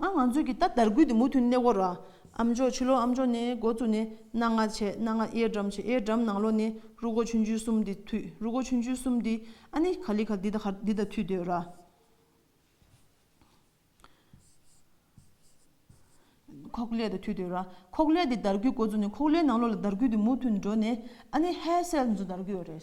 ང་ང་ཚོས་ཀྱི་ད་དར་རྒུད་དེ་མུ་མཐུད་གནས་སྐོར་ར། ཨ་མཆོག་ཕྱི་ལོ་ཨ་མཆོག་ནས་འགོ་བཙུགས་ནས་གནའ་ང་བྱས་གནའ་ང་གཡས་འགྲམ་བྱས་གཡས་འགྲམ་ནང་ལོ་ནས་རུ་གོ་ཆུན་ཆུན་གསུམ་དེ་མཐུད་རུ་གོ་ཆུན་ཆུན་གསུམ་དེ་ཨ་ནི་ག་ལི་ག་དེ་དང་དེ་དང་མཐུད་སྡོད་ར། ཁོག་ཀླད་དང་མཐུད་སྡོད་ར། ཁོག་ཀླད་དེ་དར་རྒུད་འགོ་བཙུགས་ནས་ཁོག་ཀླད་ནང་ལོ་ལ་དར་རྒུད་དེ་མུ་མཐུད་འགྲོ་ནས་ཨ་ནི་ཧའི་སེལ་ནས་ཚུར་དར་རྒུད་ར་རེད།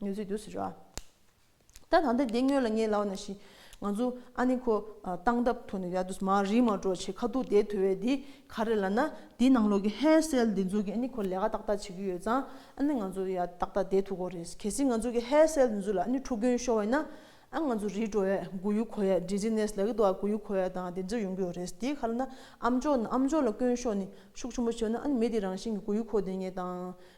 ངལ་རྩོལ་དུས་སུ་རོལ་བ། ད་ད་ལྟ་དེ་སྔོན་ལ་ངའི་ལག་ན་ཞིག་ང་ཚོ་ཨ་ནེ་ཁོ་སྟངས་སྟབས་ཐོག་ནས་ཡར་དུ་མར་རིས་མར་འགྲོ་བྱེད་ཁ་ཐུག་དེ་ཐོས་བས་འདི་ག་རེ་ལ་ན་འདིའི་ནང་ལོག་གི་ཧད་སེལ་འདི་ཚོ་གིས་ཨ་ནེ་ཁོ་ལས་ཀ་ཏག་ཏག་བྱེད་ཀྱི་ཡོད་ཙང་ཨ་ནེ་ང་ཚོ་ཡར་ཏག་ཏག་བསྡད་ཐུག་གོ་རེད་གལ་སྲིད་ང་ཚོ་གི་ཧད་སེལ་འདི་ཚོ་ལ་ཨ་ནེ་ཕྲུ་གུ་ཤོར་བས་ན་ཨ་ང་ཚོ་རིས་འགྲོ་བས་སྒུག་ཡུལ་གོ་ཡས་འདྲི་ཟི་ནས་ལ་གི་དོ་བ་གུག་ཡུལ་གོ་ཡས་དང་དེ་ཚོ་ཡོང་གི་ཡོད་རེད་འདི་ག་ལ་ན་ཨ་མཆོག་ཨ་མཆོག་ལ་སྐྱོན་ཤོག་ནི་ཤུགས་ཆེན་པོ་བྱེད་ན་ཨ་ནེ་མི་དེ་རང་བཞིན་གི་སྒུག་ཡུལ་གོ་དེ་ངས་དང